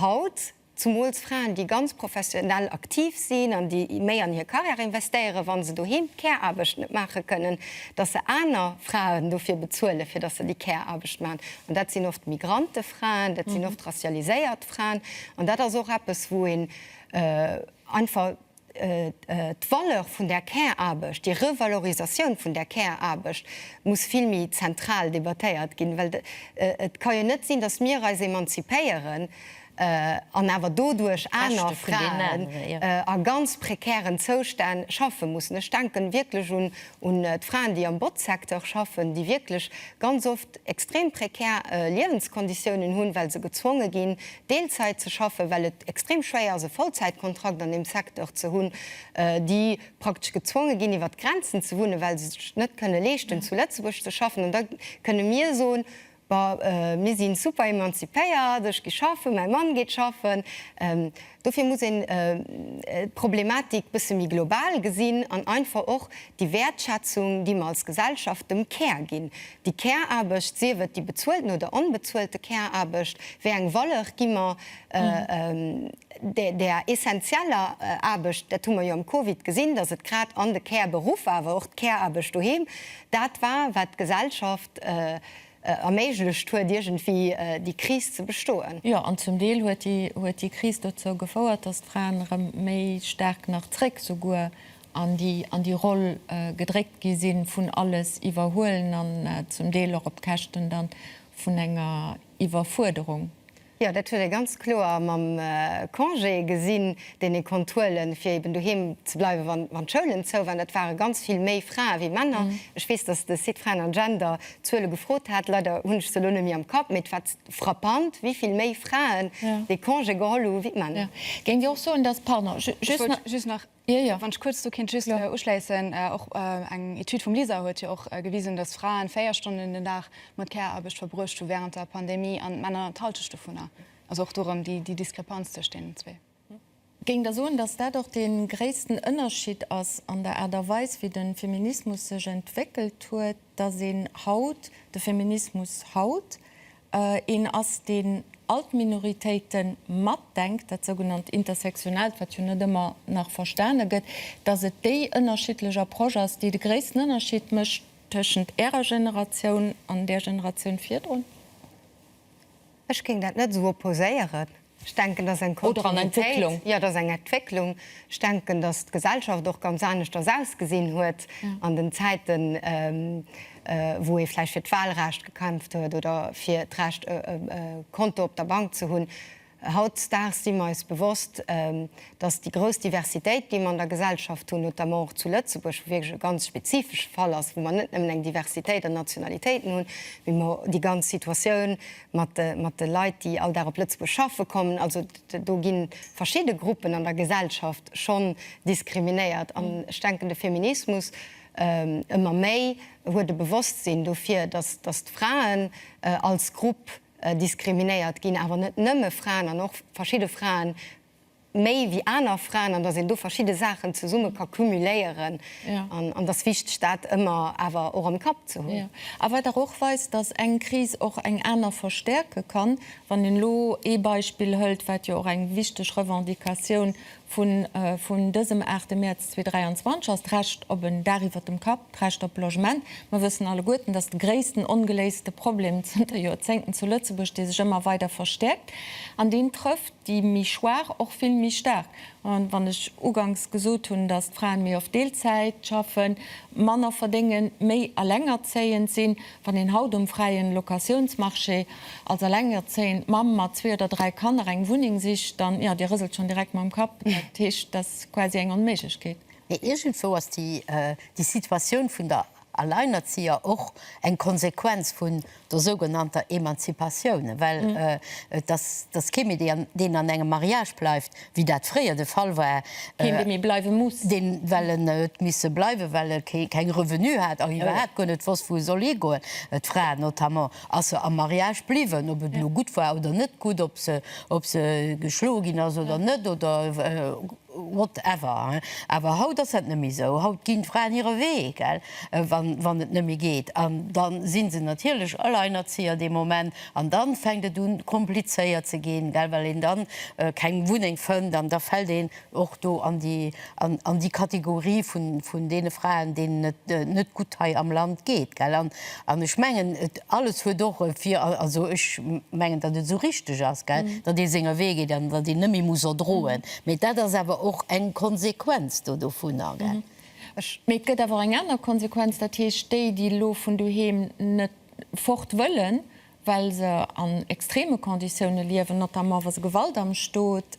haut, Zumools Fraen, déi ganz professionell aktiv sinn an déi méi an hir Karriär investéieren, wa se doheem d'Care-Aarbecht net maache kënnen, dass se aner Fraen dofir bezuelen, fir dass se déi Care-Aarbecht maachen. An dat sinn oft Migrantefraen, dat sinn oft racialiséiert Fraen. An dat ass och eppes, wou een einfach. D'Valeur vun der Care-Aarbecht, déi Revalorisatioun vun der Care-Aarbecht muss vill méi zentral debattéiert ginn, well et ka jo net sinn, datt mir eis emanzipéieren an awer doduerch aner Fraen a ganz prekären Zoustänn schaffe mussen. Ech denken wierklech un d'Fraen, déi am Botzsecteur schaffen, déi wierklech ganz oft extrem prekär Liewenskonditiounen hunn, well se gezwonge ginn, Deelzäit ze schaffen, well et extrem schwéier ass e Vollzäitkontrakt an deem Secteur ze hunn, déi praktesch gezwonge ginn iwwert d'Grenzen ze wunnen, well se sech net kënne leeschten zu Lëtzebuerg ze schaffen. An da kënne mir soen, Bah, mir si super emanzipéiert, ech gi schaffen, mäi Mann geet schaffen. Dofir muss een d'Problematik e bësse méi global gesinn an einfach och déi Wäertschätzung, déi mer als Gesellschaft dem Care ginn, Déi Care-Aarbecht, sief et déi bezuelten oder onbezuelte Care-Aarbecht, wéi eng Valeur gi mer där essentieller Aarbecht? Dat hu mer jo am Covid gesinn, datt et grad an de Care-Beruffer, awer och d'Care-Aarbecht doheem, dat war, wat d'Gesellschaft erméiglecht huet, iergendwéi déi Kris ze bestoen. Jo, an zum Deel huet déi Kris dozou gefouert, datt d'Fraen erëm méi staark nach zréck souguer an déi an déi Roll gedréckt gi sinn, vun alles iwwerhuelen an zum Deel och op Käschten da vun enger Iwwerfuerderung. Jo, dat huet ee ganz kloer mam Congé gesinn, deen ee konnt huelen, fir eben doheem ze bleiwen, wann d'Schoulen zou waren. Dat ware ganz vill méi Frae wéi Männer. Ech weess, dass de Site Fraen an Gender d'Zuele gefrot hat, leider hunn ech se elo net méi am Kapp, mee et war frappant, wéi vill méi Fraen dee Congé geholl hu wéi d'Männer. Géingt Dir och soen, dass, pardon, just nach. Jo, jo, wann ech kuerz do kinnt just uschleissen, och eng Etüd vum LISER huet jo och gewisen, dass Fraen véier Stonnen den Dag mat Care-Aarbecht verbruecht hu während der Pandemie an d'Männer d'Halschecht dovunner. Also och do erëm déi Diskrepanz tëscht deenen zwee. Géingt Der soen, dass dat och dee gréissten Ënnerschied ass an der Aart a Weis, wéi de Feminismus sech entwéckelt huet, dass een haut, de Feminismus haut, een ass, deen all d'Minoritéite matdenkt, dat sougenannt Intersectionaalt, wat jo net ëmmer nach verstane gëtt, datt et déi ënnerschiddlech Approche ass, déi de gréissten Ënnerschied mécht tëschent Ärer Generatioun an där Generatioun virdrun? Ech géing dat net esou opposéieren. Ech denken, dass eng Kontinuitéit, jo, dass eng Entwécklung, ech denken, dass d'Gesellschaft och ganz aneschters ausgesinn huet an den Zäiten, wou ee vläicht fir d'Wahlrecht gekämpft huet oder fir d'Recht, e Konto op der Bank ze hunn. Hautdesdaags si mer eis bewosst, dass déi grouss Diversitéit, déi mer an der Gesellschaft hunn, notamment och zu Lëtzebuerg, wou wierklech e ganz spezifesche Fall ass, wou mer net nëmmen eng Diversitéit an Nationalitéiten hunn, mee mer déi ganz Situatioun mat de Leit, déi all Dag op Lëtzebuerg schaffe kommen. Also do gi verschidde Gruppen an der Gesellschaft schonn diskriminéiert. An ech denken, de Feminismus ëmmer méi huet e Bewosstsinn dofir, datt d'Fraen als Grupp diskriminéiert ginn, awer net nëmme Fraen an och verschidde Fraen, méi wéi aner Fraen an dass een do verschidde Saachen zesumme ka cumuléieren an dass wichteg dat ëmmer awer och am Kapp ze hunn. A wat awer och weist, dass eng Kris och eng aner verstäerke kann, wann een elo ee Beispill hëlt, wat jo och eng wichteg Revendicatioun vun dësem 8 Mäerz 2023 ass, d'Recht op en Daach iwwert dem Kapp, d'Recht op Logement. Mer wëssen alleguerten, dass de gréissten ongeléiste Problem zënter Joerzéngten zu Lëtzebuerg, dee sech ëmmer weider verstäerkt an deen trëfft, déi méi schwaach och vill méi staark. An wann ech ugangs gesot hunn, datt d'Fraen méi oft Deelzäit schaffen, manner verdéngen, méi Alengerzéiend sinn, wann een haut um fräien Locatiounsmarché als alengerzéiend Mamm mat zwee oder dräi Kanner eng Wunneng sicht, dann, jo, Dir rëselt schonn direkt mam Kapp, dat heescht, dat ass quasi eng Onméiglechkeet. Mee iergendwou ass déi Situatioun vun der Alleinerzieher och eng Konsequenz vun der sougenannter Emanzipatioun, well et ass kee méi, deen an engem Mariage bleift, wéi dat fréier de Fall war, keen, dee méi bleiwe muss, dee well en huet misse bleiwen, well e keng Revenue hat a iwwerhaapt guer net wosst, wou e soll higoen. D'Fra notamment ass jo am Mariage bliwwen, ob et elo gutt war oder net gutt, ob se geschloe ginn ass oder net oder. What ever, awer haut ass dat nëmme esou. Haut ginn d'Fraen hire Wee, gell, wann et nëmme geet. An da si se natierlech Alleinerzieher dee Moment. An da fänkt et u komplizéiert ze ginn, gell, well een da keng Wunneng fënnt. An da fält een och do an déi Kategorie vun deene Fraen, deenen et net gutt hei am Land geet, gell. An ech mengen, alles huet och e Vir, also ech mengen, datt et esou richteg ass, gell, datt ee senge Wee geet an datt een net méi muss odroen. Mee dat ass awer och eng Konsequenz do dovunner, gell? Mee et gëtt awer och eng aner Konsequenz, dat heescht déi, déi elo vun doheem net fort wëllen, well se an extreme Conditioune liewen, notamment wa se Gewalt am Stot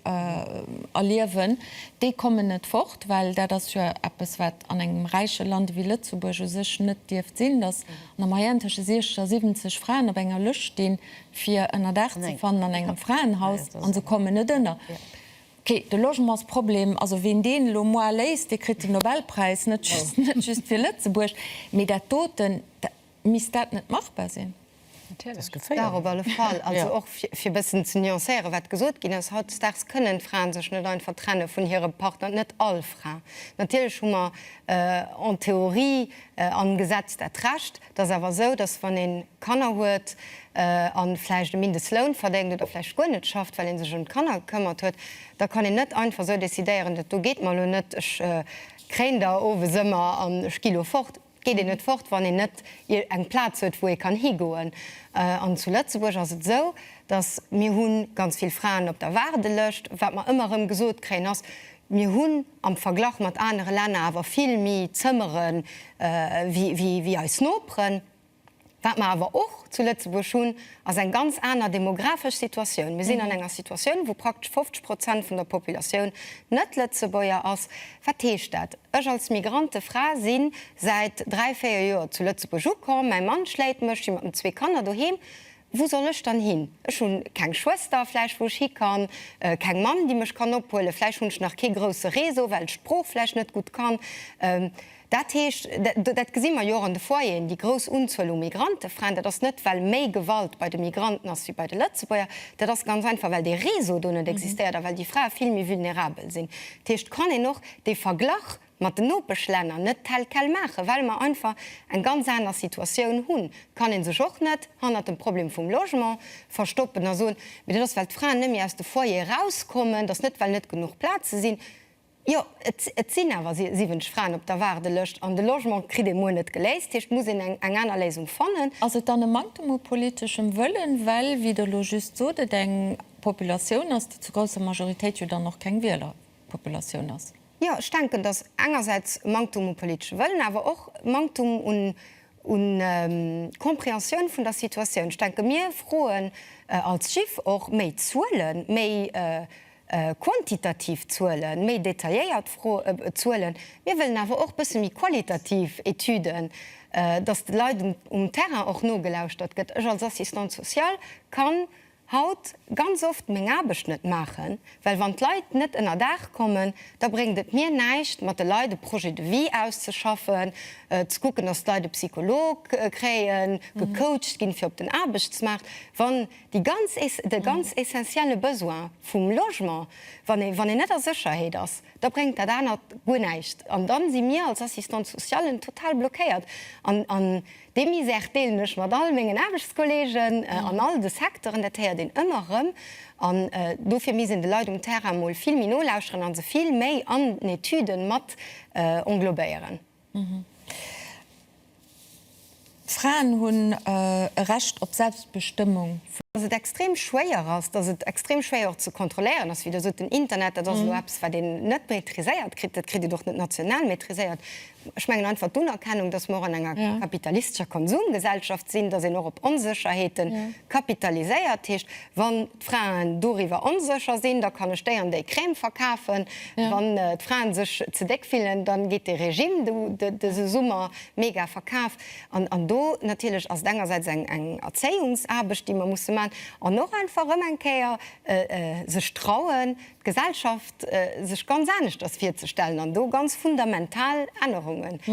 erliewen, déi kommen net fort. Well dat ass jo eppes, wat an engem räiche Land ewéi Lëtzebuerg u sech net dierft sinn, datt an der Moyenne tësche 60 a 70 Fraen op enger Lëscht stinn, fir ënnerdaach ze fannen an engem Fraenhaus, an se kommen net ënner. Ké, de Logementsproblem, also ween deen elo moi léist, dee kritt den Nobelpräis, net just fir Lëtzebuerg, mee dat doten, misst dat net machbar sinn? Natierlech, dat op alle Fall. Also och fir e bëssen ze nuancéieren, wat gesot ginn ass, Hautdesdaags kënnen d'Fraen sech net einfach trenne vun hirem Partner, net all Fra. Natierlech hu mer en Theorie am Gesetz dat Recht, Et ass awer esou, dass wann ee Kanner huet a vläicht e Mindestloun verdéngt oder vläicht guer net schafft, well ee sech ëm d'Kanner gekëmmert huet, da kann een net einfach esou decidéieren, dat do geet mer elo net, ech kréien der owes ëmmer an ech gi elo fort. Et geet een net fort, wann een net eng Plaz huet, wou ee kann higoen. An zu Lëtzebuerg ass et esou, dass mir hu ganz vill Fraen op der Waardelëscht. Wat mer ëmmer erëm gesot kréien, ass, Mir hunn am Verglach mat anere Länner awer vill méi Zëmmere wéi eis Noperen. Wat mer awer och zu Lëtzebuerg hunn, ass eng ganz aner demographesch Situatioun. Mir sinn an enger Situatioun, wou praktesch 50 Prozent vun der Populatioun net Lëtzebuerger ass. Wat heescht dat? Ech als migrante Fra si säit dräi, véier Joer zu Lëtzebuerg ukomm. Mäi Mann schléit mech, si mat den zwee Kanner doheem. Wou soll ech dann hin? Ech hunn keng Schwëster, vläicht, wou ech hi kann, keng Mamm, déi mech kann ophuelen, vläicht hunn ech nach kee grousse Réseau, well ech d'Sprooch vläicht net gutt kann. Dat heescht, dat gesi mer jo och an de Foyeren, déi grouss Unzuel u Migrantefraen, dat ass net, well méi Gewalt bei de Migranten ass wéi bei de Lëtzebuerger, dat ass ganz einfach, well dee Réseau do net existéiert a well déi Frae vill méi vulnerabel sinn. Dat heescht, et kann een och dee Verglach mat den Nopeschlänner net tel quel maachen, well mer einfach eng ganz aner Situatioun hunn, kann ee sech och net hannert dem Problem vum Logement verstoppen a soen, mee dat ass well d'Fraen net méi aus de Foyere erauskommen, dass net well net genuch Plaze sinn. Jo, et sinn awer 70 Fraen op der Waardelëscht an de Logement kritt ee muer net geléist, heescht muss een eng aner Léisung fannen. Ass et dann e Manktem u politeschem Wëllen, well, wéi Der elo just sot, et eng Populatioun ass, déi zu grousser Majoritéit jo dann och keng Wieler Populatioun ass? Jo, ech denken, dass engersäits e Manktum u politesche Wëllen, awer och e Manktum u Compréhensioun vun der Situatioun. Ech denke mir froen als GIF och méi Zuelen, méi quantitativ Zuelen, méi detailléiert Zuelen. Mir wëllen awer och e bësse méi qualitativ Etüden, dass de Leit um Terrain och nogelauschtert gëtt. Ech als Assistante sociale kann Haut ganz oft meng Aarbecht net maachen, well wann d'Leit net ënnerdaach kommen, da bréngt et mir näischt mat de Leit e Projet de vie auszeschaffen, ze kucken, datt d'Leit e Psycholog kréien, gecoacht ginn fir op den Aarbechtsmaart, wann déi ganz, de ganz essentielle Besoin vum Logement, wann ee, wann een net a Sécherheet ass, da bréngt dat anert guer näischt. An dann si mir als Assistante sociale total blockéiert an, an Dee Misär deelen ech mat all mengen Aarbechtskollegen an all de Secteuren. Dat héiert een ëmmer erëm. An dofir misst een de Leit um Terrain emol vill méi nolauschteren a se vill méi an Etüden mat englobéieren. Fraen hunn e Recht op Selbstbestëmmung vun. Dass et extrem schwéier ass, dass et extrem schwéier och ze kontrolléieren ass, wéi Der sot, den Internet, dat ass elo eppes, wat een net maîtriséiert kritt. Dat kritt een och net national maîtriséiert. Ech mengen einfach d'Unerkennung, dass mer och an enger kapitalistescher Konsumgesellschaft sinn, dass een och op Onsécherheete kapitaliséiert. Heescht, wann d'Fraen doriwwer onsécher sinn, da kann ech déi an déi Crème verkafen. Wann d'Fraen sech ze déck fillen, da geet de Regime dëse Summer mega verkaf. An do natierlech ass et engersäits eng Erzéiungsaarbecht, déi mer musse maachen an och einfach erëm eng Kéier sech trauen, d'Gesellschaft sech ganz aneschters virzestellen an do ganz fundamental Ännerungen ze.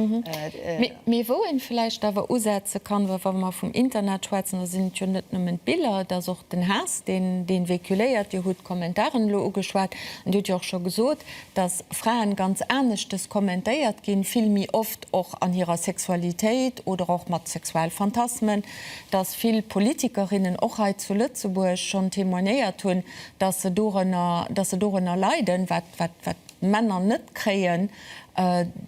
Mee wou ee vläicht awer usetze kann, wa mer vum Internet schwätzen, da sinn et jo net nëmmen d'Biller, et ass och den Haass, dee véhiculéiert. Dir hutt d'Kommentaren elo ugeschwat an Dir hutt jo och scho gesot, dass Fraen ganz aneschtes kommentéiert ginn, vill méi oft och an hirer Sexualitéit oder och mat Sexualphantasmen, dass vill Politikerinnen och hei zu Lëtzebuerg schonn témoignéiert hunn, dass se dorënner, dass se dorënner leiden, wat, wat, wat d'Männer net kréien,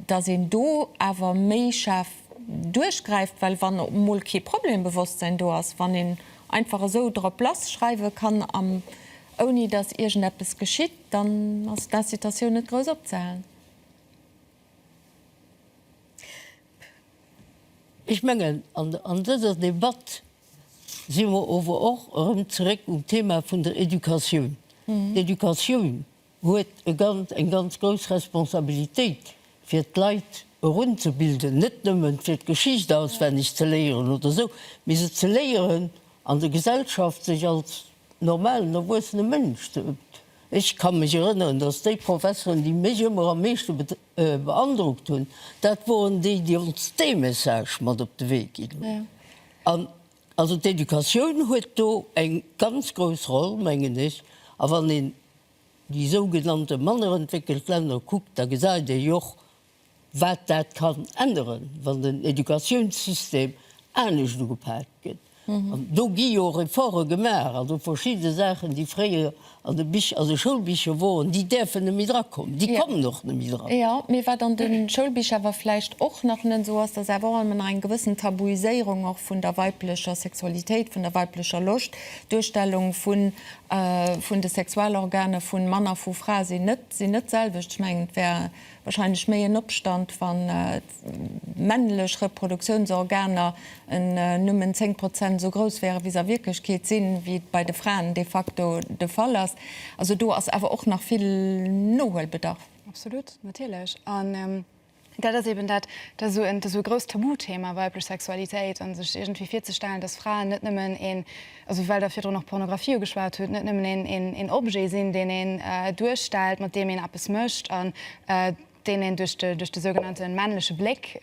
dass een do awer méi schaarf duerchgräift, well wann op emol kee Problembewosstsein do ass, wann een einfach esou drop lass schreiwe kann am, ouni dass iergendeppes geschitt, dann ass d'Incitatioun net grouss opzehalen. Ech mengen an dëser Debatt si mer ower och erëm zeréck um Thema vun der Educatioun. D'Educatioun huet e ganz, eng ganz grouss Responsabilitéit, fir d'Leit erunzebilden, net nëmmen fir d'Geschicht auswenneg ze léieren oder esou, mee se ze léieren, an der Gesellschaft sech als normalen erwuessene Mënsch sot. Ech ka mech erënneren, datt déi Professoren, déi mech ëmmer am meeschte beandrockt hunn, dat woren déi, déi ons dee Message mat op de Wee ginn hunn. An also d'Educatioun huet do eng ganz grouss Roll, mengen ech. A wann een déi sougenannte mannerentwéckelt Länner kuckt, da gesäit ee jo och, Wat dat kann änneren, wann den Educatiounssystem anescht ugepaakt gëtt. An do gi jo och Efforte gemaach, also verschidde Saachen, déi fréier an de Bich, also Schoulbicher woren, déi däerfen net méi drakommen. Déi kommen och net méi dran. Jo, mee wat an de Schoulbicher awer vläicht och nach net esou ass, dat ass awer och ëmmer nach eng gewëssen Tabuiséierung och vun der weiblecher Sexualitéit, vun der weiblecher Loscht, d'Duerstellung vun, vun de Sexualorganer vu Mann a vu Fra sinn net, sinn net d'selwecht. Ech mengen, et wär. Wahrscheinlech méi en Opstand, wann d'männlech Reproduktiounsorganer nëmmen 10 Prozent esou grouss wären, wéi se a Wierklechkeet sinn, wéi et bei de Fraen de facto de Fall ass. Also do ass awer och nach vill Nohuelbedarf. Absolut, natierlech. An dat ass eeben dat esou e grouss Tabuthema, weiblech Sexualitéit, a sech iergendwéi virzestellen, dass Fraen net nëmmen e Also well Der virdrun och Pornografie ugeschwat hutt, net nëmmen een Objet sinn, deen een duerstellt, mat deem een eppes mécht an deen een duerch de sougenannte männleche Bléck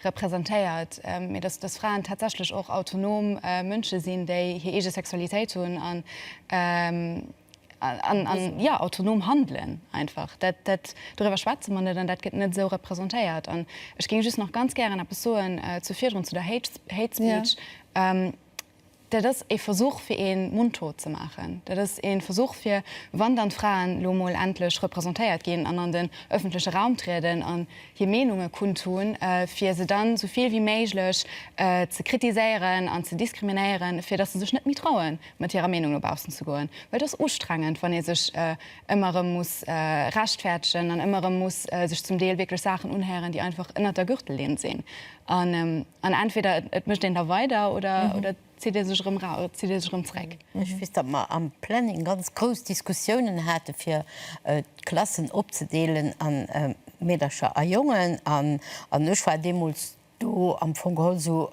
representéiert, mee dass Fraen tatsächlech och autonom Mënsche sinn, déi hir eege Sexualitéit hunn an, jo, autonom handelen einfach. Dat, doriwwer schwätze mer net an dat gëtt net esou representéiert. An ech géing just nach ganz gären eppes soen zu virdrun, zu der Hate Speech. Dat ass ee Versuch, fir ee mundtot ze maachen. Dat ass ee Versuch, fir, wann dann d'Fraen elo emol endlech representéiert ginn an an den öffentleche Raum trieden an hir Meenunge kundtun, fir se dann esou vill wéi méiglech ze kritiséieren an ze diskriminéieren, fir dass se sech net méi traue mat hirer Meenung no baussen ze goen. Well et ass ustrengend, wann ee sech ëmmer erëm muss rechtfäerdegen an ëmmer erëm muss sech zum Deel wierklech Saachen unhéieren, déi einfach ënnert der Gürtellinn sinn. An entweder et mécht een da weider oder et zitt ee sech erëm ra-, zitt ee sech erëm zréck. Ech weess, datt mer am Planning ganz grouss Diskussiounen hate fir d'Klassen opzedeelen a Meedercher a Jongen. An ech war deemools do am Fong geholl esou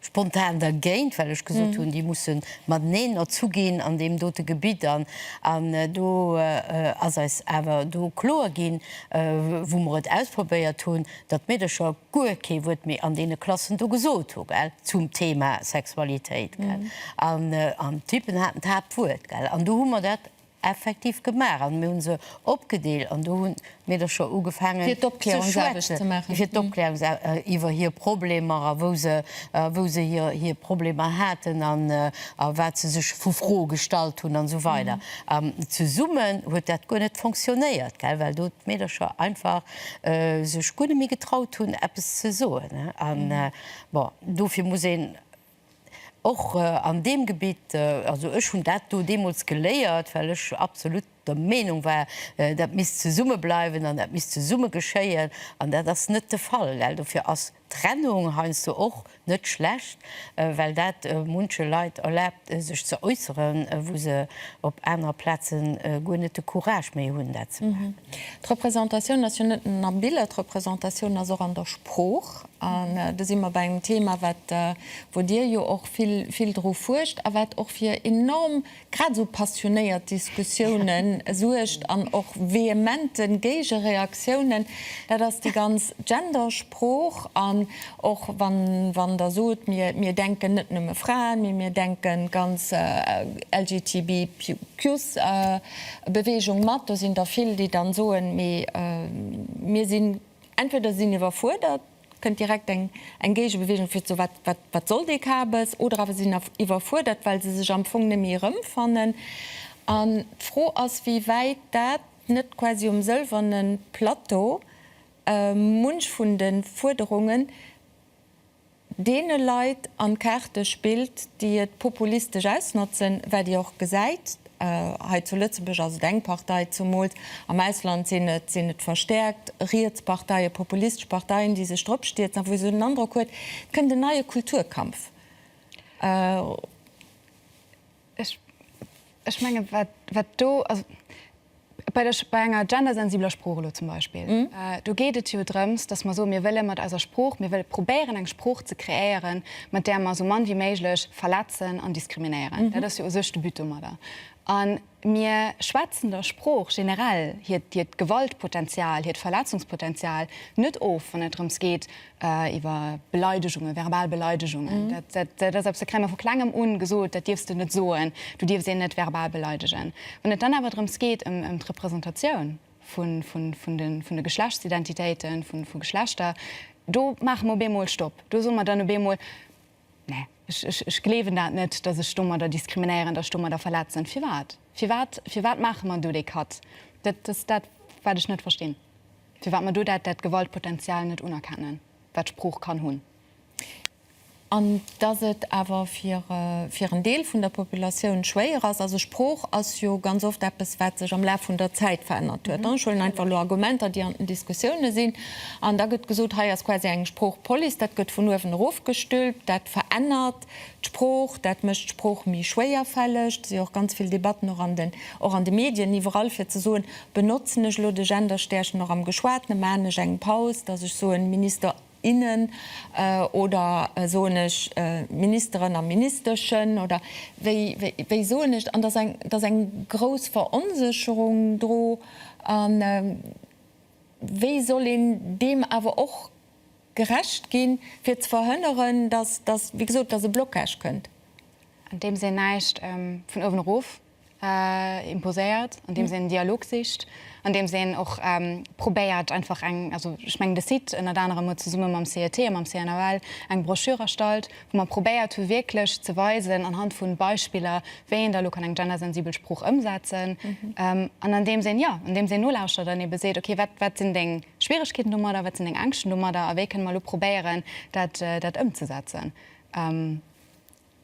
spontan dergéint, well ech gesot hunn, déi musse mateneen erzu ginn an deem dote Gebitt. An do ass eis awer do kloer ginn, wou mer et ausprobéiert hunn, datt d'Meedecher guer kee Wuert méi an deene Klassen do gesot hu gell zum Thema Sexualitéit gell an an d'Typen haten d'Haaptwuert gell an du hu mer dat effektiv gemaach an mir hu se opgedeel an do hunn d'Meedercher ugefaangen fir d'Opklärungsarbecht ze maachen fir d'Opklärungsarbecht iwwer hir Problemer a wou se wou se hir hir Problemer haten an a wat se sech vu Froe gestallt hunn an esou weider an zesummen huet dat guer net fonctionnéiert gell well do d'Meedercher einfach sech guer net méi getraut hunn eppes ze soen an bon dofir muss een och an deem Gebitt, also ech hunn dat do deemools geléiert, well ech absolut der Meenung war, dat misst zesumme bleiwen an dat misst zesumme geschéien an dat ass net de Fall, well dofir ass. Trennung heiansdo och net schlecht, well dat munche Leit erlaabt, sech ze äusseren, wou se op anerer Plaze guer net de Courage méi hunn, dat ze maachen. D'Repräsentatioun ass jo net nëmmen am Bild, d'Repräsentatioun ass och an der Sprooch. An do si mer bei engem Thema, wat, wou Dir jo och vill, vill dru fuerscht a wat och fir enorm, Grad esou passionéiert Diskussiounen suergt an och vehementen Géigereaktiounen, dat ass déi ganz Gendersprooch. An och wann Der sot, mir denken net nëmme Fraen, mee mir denke ganz LGTBIQS-Beweegung mat, do sinn der vill, déi dann soen, mee mir sinn, entweder si sinn iwwerfuerdert, Kënnt direkt eng Géigebeweegung fir d'So wat soll dee Kabes? Oder awer si sinn iwwerfuerdert, well se sech am Fong net méi erëmfannen. An d'Fro ass, wéi wäit dat net quasi um sëlwerne Plateau munch vun de Fuerderungen deene Leit an d'Kaarte spillt, déi et populistesch ausnotzen, wat Dir och gesäit. Hei zu Lëtzebuerg ass et eng Partei, zumools am Ausland sinn et sinn et verstäerkt riets Parteien, populistesch Parteien, déi sech drop stierzen a wou ee sou den Androck huet, et kënnt en neie Kulturkampf. Ech, ech menge wat do, also. Bei der, bei enger gendersensibler Sprooch elo zum Beispill, do geet et jo drëms, dass mer soen, mir wëlle mat eiser Sprooch, mir wëlle probéieren, eng Sprooch ze kreéieren, mat där mer esou mann wéi méiglech verletzen an diskriminéieren. Dat ass jo u sech de But domadder. A mir schwätzen der Sprooch generell hiert, hiert Gewaltpotenzial, hiert Verletzungspotenzial net of, wann et drëms geet, iwwer Beleidegunge, verbal Beleidegungen, dat dat ass eppes, dat kréie mer vu klengem un gesot, dat dierfs de net soen, du dierfs een net verbal beleidegen. Wann et dann awer drëms geet, ëm ëm d'Representatioun vun vun vun de vun de Geschlechtsidentitéiten, vu vu Geschlechter, do maache mer op eemol Stopp, do soe mer dann op eemol, Nee, ech gleewen dat net, datt ech domadder diskriminéieren, datt ech domadder verletzen. Firwat? Firwat, firwat maache mer do dee Cut? Dat ass dat, wat ech net verstinn, firwat mer do dat, dat Gewaltpotential net unerkennen, wat d'Sprooch kann hunn. An datt et awer fir, fir en Deel vun der Populatioun schwéier ass. Also Sprooch ass jo ganz oft eppes, wat sech am Laf vun der Zäit verännert huet. Ech huelen einfach elo Argumenter, déi an den Diskussioune sinn. An da gëtt gesot, hei ass quasi eng Sproochpolice, dat gëtt vun uewen erof gestülpt, dat verännert d'Sprooch, dat mécht d'Sprooch méi schwéierfälleg. Et si och ganz vill Debatten, och an den, och an de Medien, iwwerall, fir ze soen, benotzen ech elo de Genderstäerchen och am Geschwatene, maachen ech eng Paus, datt ech soen Minister, innen oder soen ech Ministeren a Ministeschen oder wéi, wéi soen ech et? An da ass eng, da ass eng grouss Veronsécherung dru. Wéi soll een deem awer och gerecht ginn, fir ze verhënneren, dass, dass, wéi gesot, dass e Blocage kënnt? Andeems een näischt vun uewen erof imposéiert, andeems een en Dialog sicht, andeems een och probéiert einfach eng, also ech mengen de Site ënnert anerem huet zesumme mam CET a mam CNAL eng Broschür erstallt, wou mer probéiert hu wierklech ze weisen anhand vu Beispiller, wéi een da elo kann eng gendersensibel Sprooch ëmsetzen an andeems een, jo, andeems een nolauschtert an eebe seet, okay, wat, wat sinn deng Schwieregkeeten domadder, wat sinn deng Ängschten domadder a wéi kënne mer elo probéieren, dat, dat ëmzesetzen.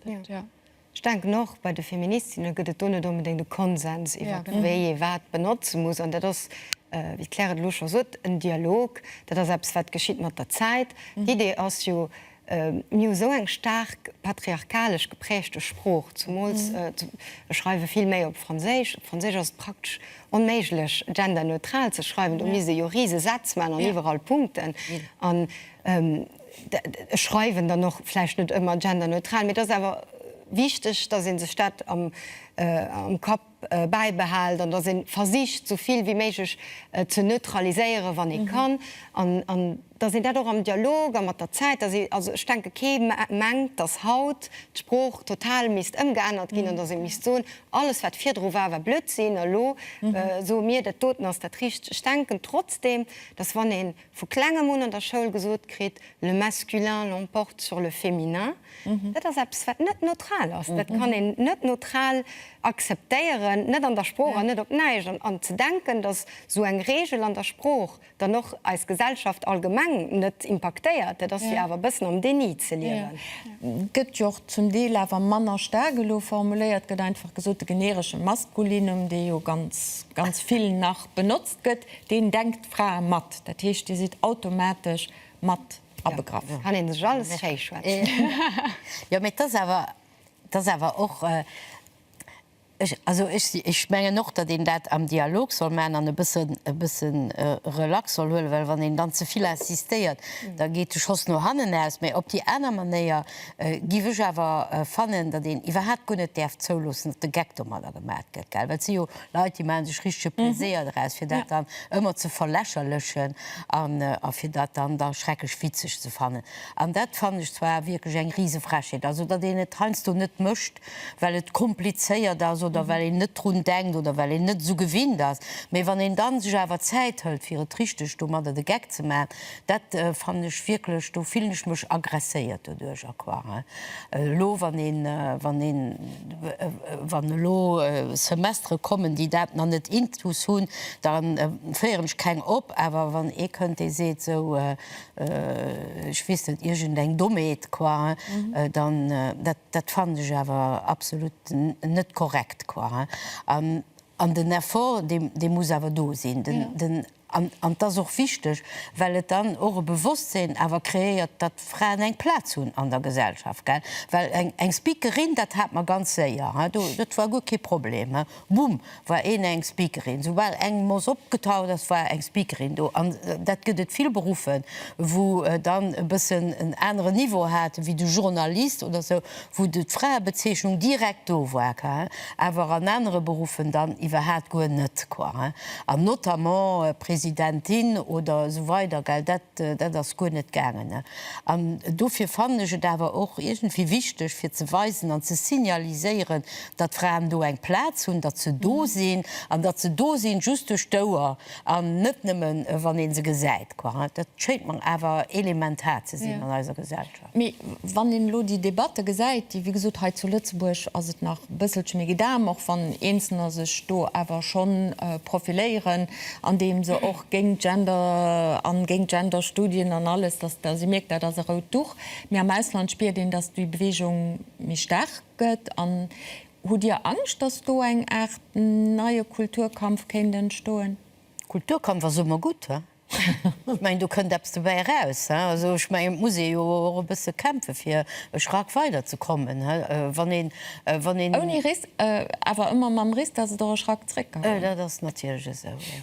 Dat, jo. Ech denken och bei de Feministinne gëtt et do net onbedéngt e Konsens iwwert wéi ee wat benotze muss. An dat ass, wéi d'Claire et elo scho sot, en Dialog. Dat ass eppes wat geschitt mat der Zäit. D'Idee ass jo, mir hu esou eng staark patriarchalesch gepräägte Sprooch, zemools ech schreiwe vill méi op Franséisch. Op Franséisch ass et praktesch onméiglech genderneutral ze schreiwen, do misst ee jo rise Sätz maachen an iwwerall Punkten. Ech schreiwen dann och vläicht net ëmmer genderneutral, mee et ass awer wichteg, datt ee sech dat am Kapp bäibehält an datt ee versicht, esou vill wéi méiglech ze neutraliséieren, wann ee kann, an datt een dat och am Dialog a mat der Zäit, datt ee, also ech denke kee mengt, datt haut d'Sprooch total misst ëmgeännert ginn an datt ee misst soen, alles wat virdru war, war Blödsinn a lo soe mir, dat doten ass dat Richtegt. Ech denken trotzdem, datt wann ee Vu klengem un an der Schoul gesot kritt, Le masculin l'emporte sur le féminin. Dat ass eppes, wat net neutral ass. Dat kann een net neutral akzeptéieren, net an der Sprooch an net op näischt. An ze denken, datt esou eng Regel an der Sprooch dann och eis Gesellschaft allgemeng net impaktéiert, dat ass jo awer e bëssen am Déni ze liewen. Gëtt jo och zum Deel awer manner staark elo formuléiert, gëtt einfach gesot, de generesche Maskulinum, dee jo ganz, ganz vill nach benotzt gëtt, Deen denkt d'Frae mat, dat heescht dir sidd automatesch mat abegraff. Kann een sech alles schéi schwätzen. Jo mee et ass awer, et ass awer och, ech, also ech, ech mengen och datt een dat am Dialog soll maachen an e bëssen, e bësse relax soll huelen, well wann een dann ze vill insistéiert, da geet de Schoss no hannen aus. Mee op déi aner Manéier géif ech awer fannen, datt een iwwerhaapt guer net däerf zouloossen, datt de Geck domadder gemat gëtt, well et si jo Leit, déi maache sech richtege Pleséier draus, fir dat dann ëmmer ze verlächerlechen a fir dat dann da schrecklech witzeg ze fannen. An dat fannen ech zwar wierklech eng Risefrechheet. Also, datt een et heiansdo net mécht, well et komplizéiert ass oder well een net drun denkt oder well een net esou gewinnt ass. Mee wann een da sech awer Zäit hëlt, fir et richteg domadder de Geck ze maachen, Dat fannen ech wierklech, do fillen ech mech agresséiert doduerch a quoi. Hein? Elo wann een, wann een, wann elo Semestere kommen, déi dat nach net intus hunn, da féieren ech keng op, awer wann ee kënnt, dee seet esou, ech weess net, iergend eng Dommheet, quoi, hein? Dann, dat, dat fannen ech awer absolut net korrekt, quoi, hein? An, an den Effort, dee, dee muss awer do sinn. Den, den An et ass och wichteg, well et dann och e Bewosstsinn awer kreéiert, datt Fraen eng Plaz hunn an der Gesellschaft, gell. Well eng Speakerin, dat hat mer ganz séier, he, do, dat war guer kee Problem, he, bumm, war een eng Speakerin. Soubal eng Moss opgetaucht ass, war eng Speakerin do. An dat gëtt et vill Beruffe wou dann e bëssen en aneren Niveau hate wéi de Journalist oder sou, wou d'Fraebezeechnung direkt do war, quoi, awer an anere Beruffen dann iwwerhaat guer net, quoi, an notamment Presidentin oder esou weider, gell, dat, dat ass guer net gaangen. An dofir fannen ech et awer och iergendwéi wichteg, fir ze weisen an ze signaliséieren, datt d'Fraen do eng Plaz hunn, datt se do sinn an datt se do sinn, just duerch d'Ouer an net nëmmen, wann ee se gesäit, quoi. Dat schéint mer awer elementar ze sinn an eiser Gesellschaft. Mee wann een elo déi Debatte gesäit, déi, wéi gesot, hei zu Lëtzebuerg ass et nach e bësselche méi Gedam, och wann Eenzelner sech do awer scho profiléieren, andeem se och géint Gender an géint Genderstudien an alles, dass da si mierkt, dat ass e rout Duch. Mee am Ausland spiert een, dass déi Beweegung méi staark gëtt. An hutt Dir Angscht, dass do eng Aart neie Kulturkampf kéint entstoen? Kulturkampf ass ëmmer gutt. Ech mengen, do kënnt eppes dobäi eraus. Also ech mengen, et muss ee jo och e bësse kämpfe fir e Schrack weiderzekommen, wann een, wann een. Ouni Risk, awer ëmmer mam Risk, dass et och e Schrack zréck ka goen. Dat ass natierlech esou, jo.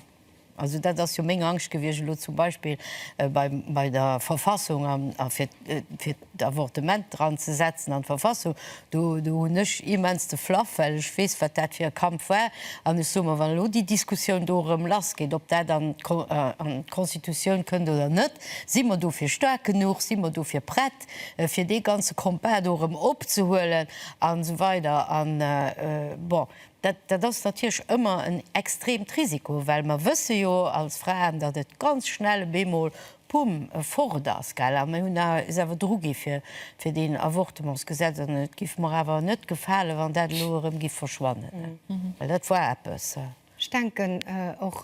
Also dat ass jo meng Angscht gewiescht elo zum Beispill bei der Verfassung a fir, fir. d'Avortement dran ze setzen an d'Verfassung, do hunn ech immens de Flaff, well ech weess, wat dat fir e Kampf war. An ech soe mer, wann elo déi Diskussioun do erëm lassgeet, ob dat an d'Constitutioun kënnt oder net, si mer dofir staark genuch, si mer dofir prett, fir dee ganze Combat do erëm opzehuelen an esou weider. An, bon, dat ass natierlech ëmmer en extreemt Risiko, well mer wësse jo als Fraen, datt et ganz schnell op eemol Pumm fort ass, gell? A mir hunn awer, is awer dru gi fir, fir deen Avortementsgesetz, an et giff mer awer net gefalen, wann dat elo erëm giff verschwannen, well dat war eppes. Ech denken och,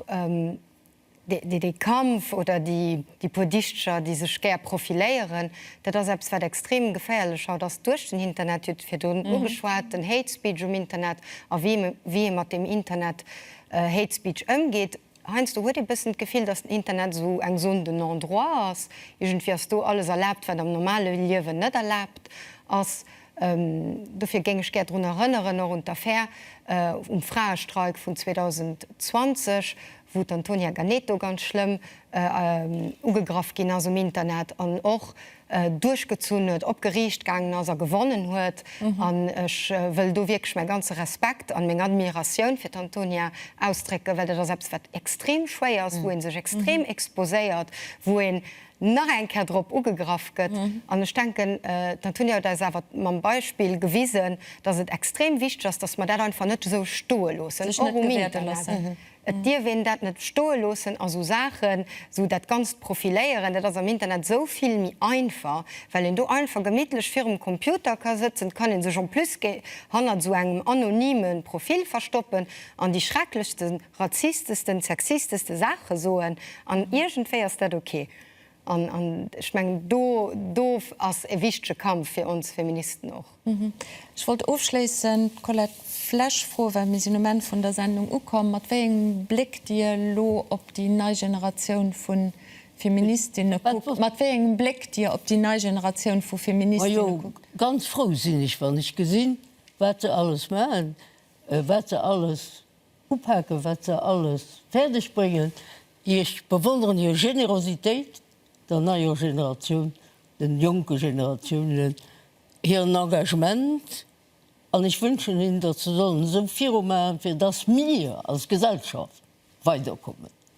déi, déi Kampf oder déi, déi puer Dichtcher, déi sech gär profiléieren, dat ass eppes, wat extrem geféierlech haut ass duerch den Internet. Dir hutt virdrun ugeschwat den Hate Speech um Internet a wéi, wéi ee mat deem Internet Hate Speech ëmgeet. Heiansdo huet ee bëssen d'Gefill, datt den Internet esou eng Zone de non-droit ass, iergendwéi ass do alles erlaabt, wat am normale Liewen net erlaabt ass. Dofir géing ech gär drun erënneren, och un d'Affär um Fraestreik vun 2020, wou d'Antonia Ganeto ganz schlëmm ugegraff ginn ass um Internet an och, duerchgezunn huet, op Geriicht gaangen ass a gewonnen huet. An ech wëll do wierklech mäi ganze Respekt an meng Admiratioun fir d'Antonia ausdrécken, well dat ass eppes, wat extrem schwéier ass, wou ee sech extrem exposéiert, wou een nach eng Kéier drop ugegraff gëtt. An ech denken, d'Antonia huet eis awer mam Beispill gewisen, dass et extrem wichteg ass, dass mer dat einfach net esou stoe loossen, och um Internet. Et dierf een dat net stoe loossen a sou Saachen, sou dat ganzt Profiléieren, dat ass am Internet esou vill méi einfach, well een do einfach gemittlech virum Computer ka sëtzen, et kann ee sech en plus hannert sou engem anonyme Profil verstoppen an déi schrecklechste, razistesten, sexisteste Saache soen an iergendwéi ass dat ok. An ech mengen, do ass e wichtege Kampf fir ons Feministen och. Ech wollt ofschléissend d'Colette Flesch froen, well mir sinn um Enn vun der Sendung ukomm, mat wéi engem Bléck Dir elo op déi nei Generatioun vu Feministinne kuckt. Mat wéi engem Bléck Dir op déi nei Generatioun vu Feministinne kuckt. Majo, ganz frou sinn ech, wann ech gesinn, wat se alles maachen, wat se alles. Upaken wat se alles fäerdeg bréngen. Ech bewonneren hir Generositéit der neier Generatioun, den jonke Generatiounen hiren Engagement an ech wënschen hinnen, datt se sollen esou viru maachen, fir datt mir als Gesellschaft weiderkommen.